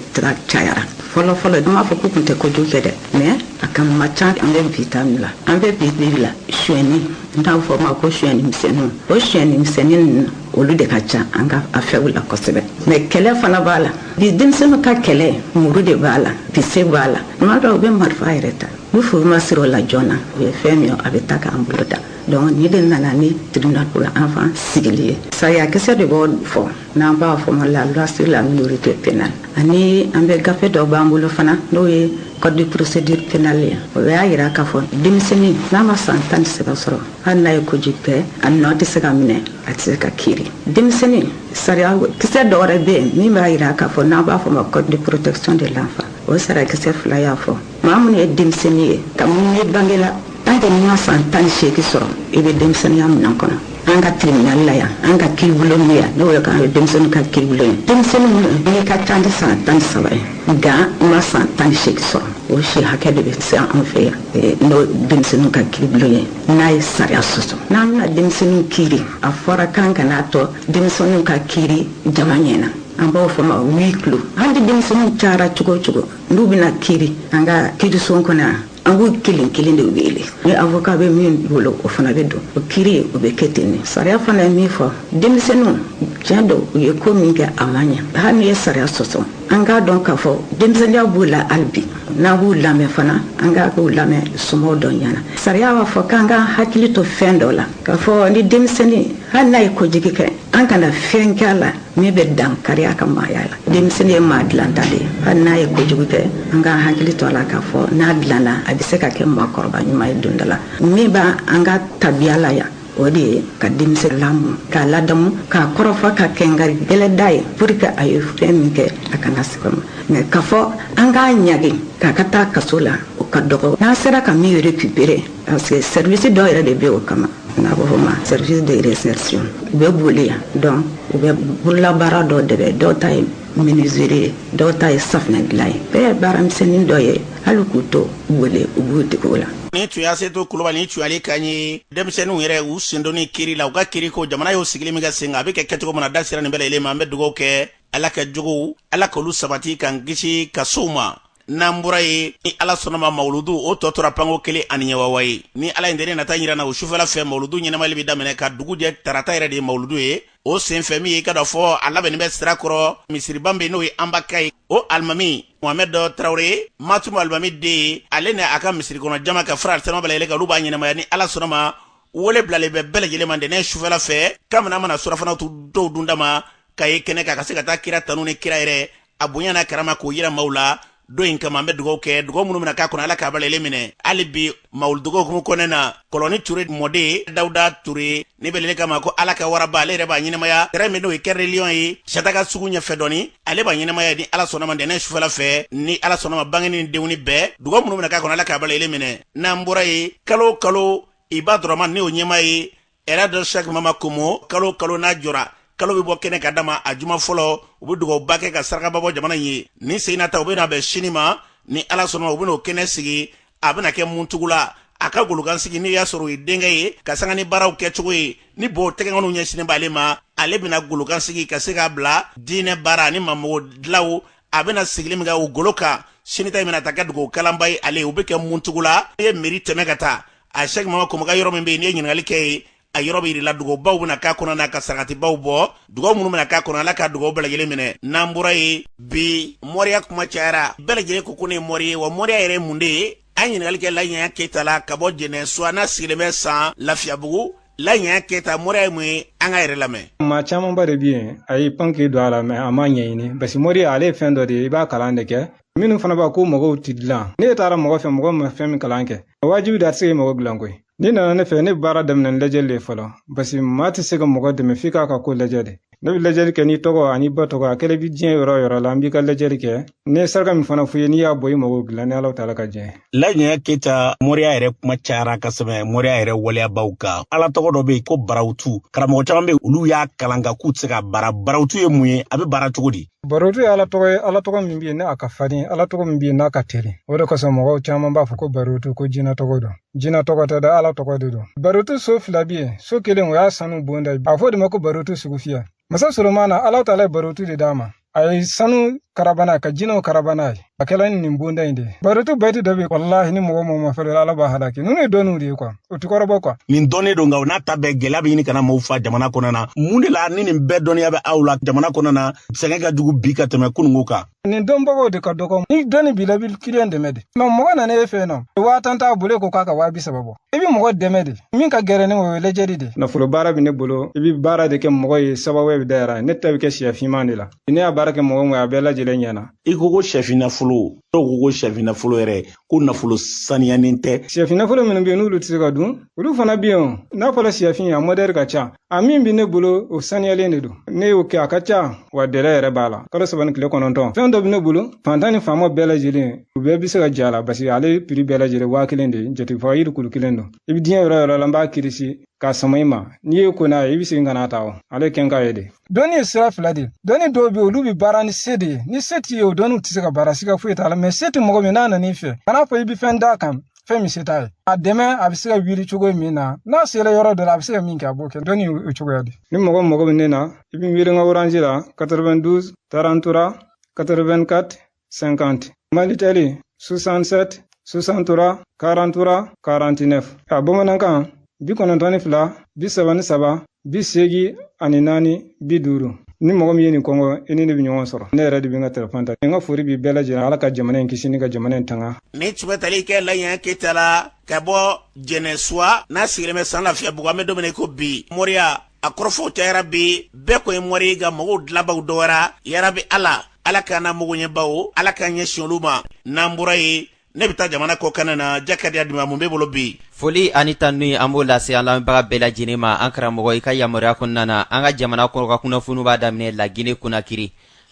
cayara fɔlɔ fɔlɔ n t'a fɔ k'u tun tɛ kojugu kɛ dɛ mais a tun man ca an bɛ bi ta la an bɛ bi bi la suyɛni n'an b'a fɔ ma ko suyɛni misɛnninw o suyɛni misɛnnin ninnu olu de ka ca an ka affaires la kosɛbɛ mais kɛlɛ fana b'a la bi denmisɛnninw ka kɛlɛ muru de b'a la bese b'a la tuma dɔ u bɛ marifa yɛrɛ ta ni fu ma siri o la joona o ye fɛn min ye a bɛ taa k'an bolo dan donc nin de nana ni tribunal pour enfant sigili ye sariyakisɛ de b'o fɔ n'an b'a fɔ ma la loi sur la minorité pénale ani an bɛ gafe dɔ b'an bolo fana n'o ye code de procédure pénale ye o y'a yira k'a fɔ denmisɛnnin n'a ma san tan ni saba sɔrɔ hali n'a ye kojugu kɛ a nɔ tɛ se ka minɛ a tɛ se ka kiri denmisɛnnin sariyakisɛ dɔ wɛrɛ bɛ yen min b'a yira k'a fɔ n'an b'a fɔ ma code de protection de l'enfant o sariyakisɛ fila y'a fɔ maa minnu ye denmisɛnnin ye kabini i bangela an tɛ n'i ma san tan ni seegi sɔrɔ i bɛ denmisɛnninya minɛn kɔnɔ an ka tribunali la yan an ka kiribulon bɛ yan n'o ye k'an ye denmisɛnninw ka kiribulon ye denmisɛnnin minnu n'i ka ca ni san tan ni saba ye nka i ma san tan ni seegi sɔrɔ o si hakɛ de bɛ se an fɛ yan eh, n'o denmisɛnninw ka kiribulon ye n'a ye sariya sɔsɔ n'an bɛna denmisɛnninw kiri a fɔra k'an kana to denmisɛnninw ka kiri jama ɲɛ na an b'o fɔ ma huis clos an tɛ denmisɛnninw cayara cogo o cogo n'u bɛna kiri an ka kiriso kɔnɔ yan an b'u kelen kelen de wele ni avoka bɛ min bolo o fana bɛ don o kiri o bɛ kɛ ten nin sariya fana ye min fɔ denmisɛnninw tiɲɛ don u ye ko min kɛ a ma ɲɛ hali n'i ye sariya sɔsɔ an k'a dɔn k'a fɔ denmisɛnninya b'u la hali bi n'an b'u lamɛn fana an k'a k'u lamɛn somɔgɔw dɔ ɲɛna sariya b'a fɔ k'an k'an hakili to fɛn dɔ la k'a fɔ ni denmisɛnnin hali n'a ye kojugu kɛ an kana fɛn kɛ a la min bɛ dankari a ka maaya la denmisɛnnin ye maa dilanta de ye hali n'a ye kojugu kɛ an ka hakili to a la k'a fɔ n'a dilanna a bɛ se ka kɛ maakɔrɔba ɲuman ye don dɔ la min b'a an ka tabiya la yan o de ye ka denmisɛn lamɔ k'a ladamu k'a kɔrɔfɔ ka kɛnkari gɛlɛn d'a ye pour que a ye fɛn min kɛ a kana segin ma mais k'a fɔ an k'a ɲangi k'a ka taa kaso la o ka dɔgɔ n'an sera ka min récupérer Parce que service dɔw yɛrɛ de bɛ o kama n'a bɛ fɔ ma service de réinsertion u bɛ bollé yan donc u bɛ bololabaara dɔ de bɛ dɔw ta ye menuiserie ye dɔw ta ye safinɛ dilan ye bɛɛ ye baaramisɛnnin dɔ ye hali k'u to wele u b'u dege o la nin tun y'asetu kulubali nin tun y'ale kan ye denmisɛnninw yɛrɛ u sendonni kiri la u ka kiri ko jamana y'o sigili min kɛ sen kan a bɛ kɛ kɛcogo min na da sera nin bɛɛ lajɛlen ma an bɛ dugawu kɛ ala ka jogow ala k'olu sabati k'an kisi kasow ma n'an bɔra yen ni ala sɔnna ma mawuludu o tɔ tora panko kelen ani ɲɛwawa ye ni ala ye ntɛnɛn nata jira an na o sufɛla fɛ mawuludu ɲɛnamali bɛ daminɛ ka dugu jɛ tarata yɛrɛ de ye mawuludu ye o senfɛ min ye k'a dɔn k'a fɔ a labɛnni bɛ sirakɔrɔ misiriban bɛ n'o ye anba ka ye o alimami mohamɛdu tarawele ye matumu alimami den ye ale ni a ka misiri kɔnɔ jama ka fara aritama bɛɛ lajɛlen kan olu b'a ɲɛnamaya ni ala sɔnna ma wele bilalen bɛ bɛɛ lajɛlen ma ntɛnɛn sufɛla fɛ kabini an mana surafana to dɔw dun dama ka ye kɛnɛ kan ka se ka taa kira tanu ni kira yɛrɛ a bonya n'a karama k'o yira maaw la don in kama an bɛ dugawu kɛ dugawu minnu bɛna k'a kɔnɔ ala k'a bɛɛ lajɛlen minɛ hali bi mawuludukow hukumu kɔnɔna na kɔlɔni ture mɔden dawuda ture n'a bɛ wele kama ko ala ka waraba ale yɛrɛ b'a ɲɛnamaya tɛrɛn min n'o ye cœur de lion ye sataka sugu ɲɛfɛ dɔɔni ale b'a ɲɛnamaya ni ala sɔnna ma ntɛnɛn sufɛla fɛ ni ala sɔnna ma bange ni denkundi bɛɛ dugawu minnu bɛna k'a kɔnɔ ala k'a bɛɛ lajɛlen minɛ n'an bɔra yen kalo o kalo abudɔrɔmani y'o ɲɛmaa ye elaji shak mama komo kalo o kalo n'a jɔra kalo bɛ bɔ kɛnɛ kan dama a juma fɔlɔ u bɛ dugawuba kɛ ka sarakaba bɔ jamana ye nin sen in na ta u bɛna bɛn sini ma ni ala sɔnna u bɛna o kɛnɛ sigi a bɛna kɛ muntugula a ka golokansigi n'i y'a sɔrɔ o ye denkɛ ye ka sanga ni baaraw kɛ cogo ye ni b'o tɛgɛkɔniw ɲɛsinnen b'ale ma ale bɛna golo kan sigi ka se k'a bila diinɛ baara ani maa mago dilanw a bɛna sigili min kɛ o golo kan sini ta in bɛna taa kɛ dugawu kalanba ye ale u bɛ kɛ muntugula n'i ye miiri tɛmɛ ka taa a sɛki mama kɔmɔ ka yɔrɔ min bɛ yen n'i ye ɲininkali kɛ yen a yɔrɔ bɛ yirila dugabaw bɛna k'a kɔnɔ n'a ka sarakatibaw bɔ dugaw minnu bɛna k'a kɔnɔ ala ka dugaw bɛɛ lajɛlen minɛ n'an bɔra yen bi mɔriya kuma cayara bɛɛ lajɛlen ko ko ne ye mɔri ye wa mɔriya yɛrɛ ye mun de ye an ɲininkali kɛ laji yaya keyita la ka bɔ jɛnɛ sisan a sigilen bɛ san lafiyabugu laji yaya keyita mɔriya ye mun ye an k'a yɛrɛ lamɛn maa camanba de bi yen a y'i pan k'i don a la mɛ a m'a ɲɛɲini basi mɔriya ale ye fɛn dɔ de ye i b'a kalan de kɛ minnu fana b'a ko magow ti dilan n'i taara mɔgɔ fɛ mɔgɔ ma fɛn min kalan kɛ wajibi de a tɛ se k'i mago dilan koyi n'i nana ne fɛ ne bɛ baara daminɛ ni lajɛli de fɔlɔ basi maa tɛ se ka mɔgɔ dɛmɛ f'i k'a ka ko lajɛ de ne bɛ lajɛli kɛ n'i tɔgɔ an'i ba tɔgɔ a kɛlen bɛ diɲɛ yɔrɔ o yɔrɔ la an b'i ka lajɛli kɛ ne ye saraka min fana f'i ye n'i y'a bɔ i mago dilan ni ala taala ka diɲɛ laji yaya keyita moriya yɛrɛ kuma cayara ka sɛmɛ moriya yɛrɛ waleyabaw kan ala tɔgɔ dɔ bɛ yen ko barawutu karamɔgɔ caman bɛ yen olu y'a kalan nka k'u tɛ se ka baara barawutu ye mun ye a bɛ baara cogo di barotu ye ala tɔgɔ ye ala tɔgɔ min bɛ yen ni a ka farin ala tɔgɔ min bɛ yen n'a ka teli o de kosɔn mɔgɔw caman b'a fɔ ko barotu ko jinɛ tɔgɔ don jinɛ tɔgɔ tɛ dɛ ala tɔgɔ de don barotu so fila bɛ yen so kelen o y'a sanu bonda ye a fɔ de ma ko barotu sugu fiyɛ masa solomana ala taala ye barotu de d'a ma a ye sanu karaba n'a ka jinɛw karaba n'a ye a kɛla ni nin bonda in de ye barotu bɛti dɔ be yen walahi ni mɔgɔ o mɔgɔ ma fɛrɛ ala b'a halaki nunu ye dɔnniw de ye kuwa o ti kɔrɔbɔ kuwa nin dɔnnen don nka o n'a ta bɛɛ gɛlɛya be ɲini ka na mɔgɔw fa jamana kɔnɔ na mun de la ni nin bɛɛ dɔnniya bɛ aw la jamana kɔnɔ na sɛgɛn ka jugu bi ka tɛmɛ kununko kan nin dɔnbagaw de ka dɔgɔ ni dɔnni b'i la i bi kiliyan dɛmɛ de mɛ mɔgɔ nana e fɛ n'o waa tan t'a bolo e ko k'a ka waa bi saba bɔ i be mɔgɔ dɛmɛ de min ka gɛlɛn ni o ye lajɛli de nafolo baara be ne bolo i be baara de kɛ mɔgɔ ye sababu be dayɛlɛ ne ta be kɛ siyɛ finman de la ne y'a baara kɛ mɔgɔ o mɔgɔ a bɛɛ lajɛlen ɲɛna i ko ko sɛfin nafolo dɔw ko ko sɛfin nafolo yɛrɛ ko nafolo saniyanen tɛ sɛfin nafolo minnu bɛ yen n'olu tɛ se ka dun olu fana bɛ yen n'a fɔra sɛfin a mɔdɛli ka ca a min bɛ ne bolo o saniyalen de don ne y'o kɛ a ka ca wa dɛlɛ yɛrɛ b'a la kalo saba ni tile kɔnɔntɔn fɛn dɔ bɛ ne bolo fantan ni faama bɛɛ lajɛlen u bɛɛ bɛ se ka j'a la paseke ale piri bɛɛ lajɛlen waa kelen de jatigifaa yiri kulu kelen don i bɛ diɲɛ yɔrɔ o yɔrɔ la n b'a kirisi k'a sama i ma n'i y'i ko n'a ye i bɛ segin ka n'a ta o ale kɛn k'a ye de dɔnni ye sira fila de ye dɔnni dɔw bɛ olu bɛ baara ni se de ye ni se t'i ye o dɔnniw tɛ se ka baara siga foyi t'a la mɛ se tɛ mɔgɔ min na n'a nan'i fɛ kan'a fɔ i bɛ fɛn d'a kan fɛn min se t'a ye a dɛmɛ a bɛ se ka wuli cogo min na n'a sera yɔrɔ dɔ la a bɛ se ka min kɛ a b'o kɛ dɔnni o cogoya de ni mɔgɔ mago bɛ ne na i bɛ wele n ka oranzi la 92 tarantura 84 50 malitɛli 67 63 43 49 a bamanankan bi kɔnɔntɔn ni fila bi saba ni saba bi seegi ani naani bi duuru ni mɔgɔ min ye nin kɔngɔ i ni ne bɛ ɲɔgɔn sɔrɔ ne yɛrɛ de bɛ n ka telefɔni ta n ka fori b'i bɛɛ lajɛlen ala ka jamana in kisi ni ka jamana in tanga nin tun bɛ tali kɛ laye keta la ka bɔ jɛnɛsuwa n'a sigilen bɛ san lafiyabugu an bɛ don min na ko bi moriya a kɔrɔfɔw cayara bi bɛɛ ko n ye mori ye ka mɔgɔw dilabaw dɔgɔyara yarabi ala ala k'an na mɔgɔɲɛbaw ala k'an ɲɛsin olu ma n'an bɔra yen ne bɛ taa jamana kɔkanna na jakadiya dima mun b'i bolo bi foli ani tanu ye an b'o lase an lamɛnbaga bɛɛ lajɛlen ma an karamɔgɔ i ka yamaruya kɔnɔna na an ka jamana kɔnɔ ka kunnafoniw b'a daminɛ lagine konakiri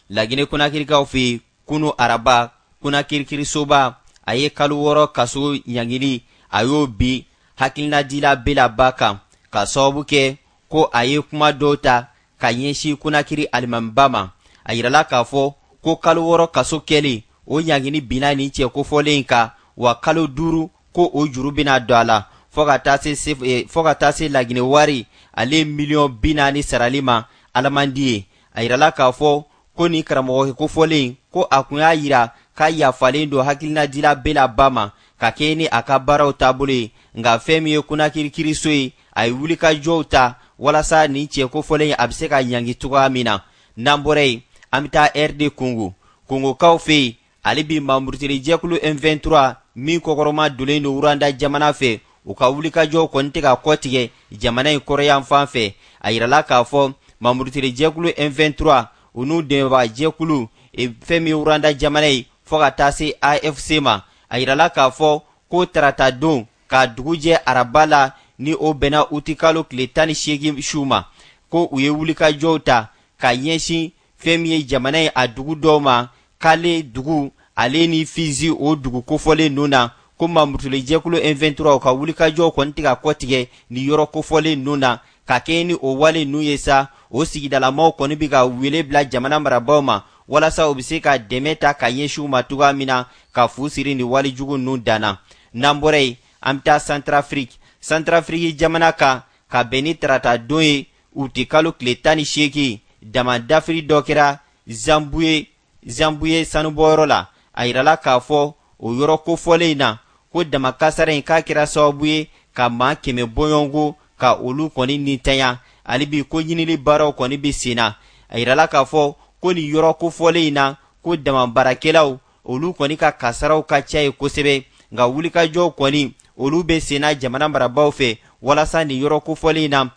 lagine konakirikaw fɛ yen kunu araba konakiri kirisoba a ye kalo wɔɔrɔ kaso ɲangili a y'o bin hakilinadila bela ba kan ka sababu kɛ ko a ye kuma dɔw ta ka ɲɛsin konakiri alimamiba ma a yirala k'a fɔ ko kalo wɔɔrɔ kaso kɛlen o ɲangini binna nin cɛ kofɔlen in kan wa kalo duuru ko o juru bɛna don a la fɔɔ ka taa se eh, fɔɔ ka taa se laginɛ wari ale miliyɔn bi naani sarali ma alamandi ye a yirala k'a fɔ ko nin karamɔgɔ kofɔlen ko a kun y'a yira k'a yafalen don hakilinadila bela ba ma ka kɛɲɛ ni a ka baaraw taabolo ye nka fɛn min ye konakiri kiriso ye a ye wulikajɔw ta walasa nin cɛ kofɔlen a bɛ se ka ɲangi cogoya min na n'an bɔra yen an bɛ taa rd kongo kongokaw fɛ yen hali bi mamurutiri jɛkulu m23 min kɔkɔrɔmadonnen don wuranda jamana fɛ u ka wulikajɔw kɔni tɛ ka kɔtigɛ jamana in kɔrɔnyanfan fɛ a yirala k'a fɔ mamurutiri jɛkulu m23 u n'u dɛmɛbaga jɛkulu e, fɛn min ye wuranda jamana ye fɔɔ ka taa se afc ma a yirala k'a fɔ ko tarata don ka dugu jɛ araba la ni o bɛnna utikalo tile tan ni seegin su ma ko u ye wulikajɔw ta ka ɲɛsin fɛn min ye jamana ye a dugu dɔw ma kale dugu ale ni fizi o dugu kofɔlen ninnu na ko mamurutili jɛkulu m23 ka wulikajɔw kɔni tɛ ka kɔtigɛ ni yɔrɔ kofɔlen ninnu na ka kɛɲɛ ni o wale ninnu ye sa o sigidalamaw kɔni bɛ ka wele bila jamana marabaaw ma walasa u bɛ se ka dɛmɛ ta ka ɲɛsin u ma cogoya min na ka fu siri nin wale jugu ninnu dan na n'an bɔra yen an bɛ taa santarafiriki santarafiriki jamana kan ka bɛn ni tarata don ye utikalo tile tan ni seegin dama dafiri dɔ kɛra zanbuye zanbuye sanubɔyɔrɔ la a yirala k'a fɔ o yɔrɔ kofɔlen in na ko dama kasara in k'a kɛra sababu ye ka maa kɛmɛ bɔɲɔgɔnko ka olu kɔni nintanya hali bi ko ɲinili baaraw kɔni bɛ sen na a yirala k'a fɔ ko nin yɔrɔ kofɔlen in na ko dama baarakɛlaw olu kɔni ka kasaraw ka ca ye kosɛbɛ nka wulikajɔw kɔni olu bɛ senna jamana marabaaw fɛ walasa nin yɔrɔ kofɔlen in na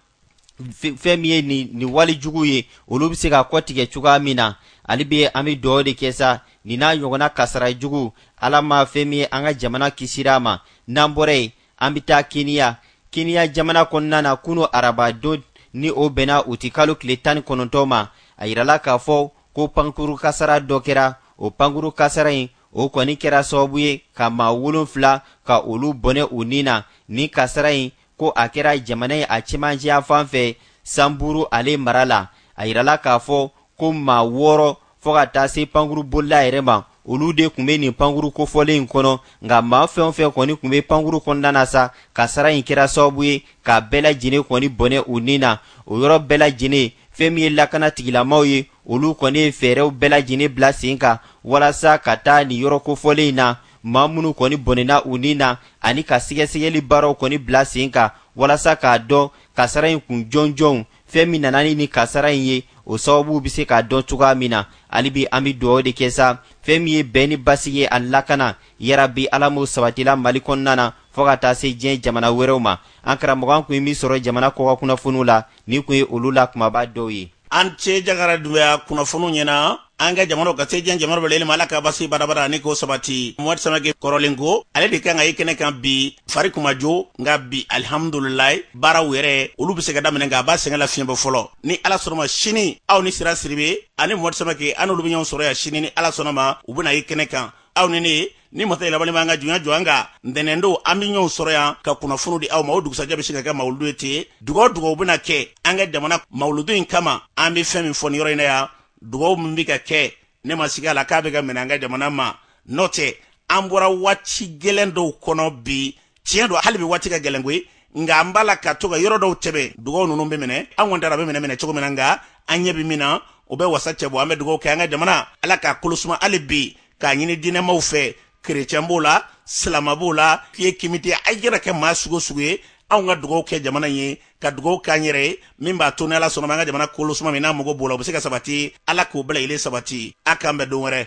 fɛn min ye nin wale juguw ye olu bɛ se ka kɔtigɛ cogoya min na hali bi an bɛ dugawu de kɛ sa nin n'a ɲɔgɔnna kasara jugu ala ma fɛn min ye an ka jamana kisira a ma n'an bɔra yen an bɛ taa keniya keniya jamana kɔnɔna na kunu arabadon ni o bɛnna uti kalo tile tan ni kɔnɔntɔn ma a yirala k'a fɔ ko pankuru kasara dɔ kɛra o pankuru kasara in o kɔni kɛra sababu ye ka maa wolonfila ka olu bɔnɛ u ni na ni kasara in ko a kɛra jamana in a cɛmancɛ yanfan fɛ sanburu ale mara la a yirala k'a fɔ ko maa wɔɔrɔ fɔɔ ka taa se pankuru bolila yɛrɛ ma olu de tun bɛ nin pankuru kofɔlen in kɔnɔ nka maa fɛn o fɛn kɔni tun bɛ pankuru kɔnɔna na sa kasara in kɛra sababu ye k'a bɛɛ lajɛlen kɔni bɔnɛ u ni na o yɔrɔ bɛɛ lajɛlen fɛn min ye lakanatigilamaw ye olu kɔni ye fɛɛrɛw bɛɛ lajɛlen bila sen kan walasa ka taa nin yɔrɔ kofɔlen in na maa minnu kɔni bɔnɛna u ni na ani ka sɛgɛsɛgɛli baaraw kɔni bila sen kan walasa k'a dɔn kasara in kun jɔnjɔnw fɛn min nana ni nin kasara in ye o sababu bɛ se ka dɔn cogoya min na hali bi an bɛ dugawu de kɛ sa fɛn min ye bɛn ni basigi ye ani lakana yarabi ala m'o sabatila mali kɔnɔna na fɔɔ ka taa se diɲɛ jamana wɛrɛw ma an karamɔgɔ an tun ye min sɔrɔ jamana kɔkan kunnafoniw la nin kun ye olu la kunbaba dɔw ye an ce jagara dunbuya kunnafoniw ɲɛna an ka jamana ka se diɲɛ jamana bɛɛ ma ala ka basigi badaa badaa ani k'o sabati mohamɛdi samake kɔrɔlen ko ale de kan ka ye kɛnɛ kan bi fari kuma jo nka bi alihamdulilalayi baaraw yɛrɛ olu bɛ se ka daminɛ nka a b'a sɛgɛn lafiɲɛ bɔ fɔlɔ ni ala sɔnna ma sini aw ni sira sidibe ani mohamɛdi samake ani olu bɛ ɲɔgɔn sɔrɔ yan sini ni ala sɔnna ma u bɛna ye kɛnɛ kan aw ni ne ni masa yɛlɛmabali m'an ka junya jɔ an ka ntɛnɛn don an bɛ ɲɔgɔn sɔrɔ yan ka kunnafoni di aw ma o dugusajɛ bɛ se ka kɛ mawuludu ye ten dugaw dugaw bɛna kɛ an ka jamana mawuludu in kama an bɛ fɛn min fɔ nin yɔrɔ in na yan dugaw min bɛ ka kɛ ne ma siga a la k'a bɛ ka minɛ an ka jamana ma n'o tɛ an bɔra waati gɛlɛn dɔw kɔnɔ bi tiɲɛ don hali bi waati ka gɛlɛn koyi nka an b'a la ka to ka yɔrɔ dɔw tɛmɛ dugaw ninnu bɛ minɛ an kɔni tara bɛ minɛ minɛ cogo min na nka an ɲɛ bɛ min na o bɛ wasa cɛ bɔ an bɛ dugaw kɛ an ka jamana ala k'a kolosuma hali bi k'a ɲini diinɛmaw fɛ kerecɛn b'o la silama b'o la fiye kimite a yɛrɛ kɛ maa sugu o sugu ye anw ka dugaw kɛ jamana ye ka dugaw k'an yɛrɛ ye min b'a to ni ala sɔnna ma an ka jamana kolosuma min n'a mago b'o la o bɛ se ka sabati ala k'o bɛɛ lajɛlen sabati a k'an bɛn don wɛrɛ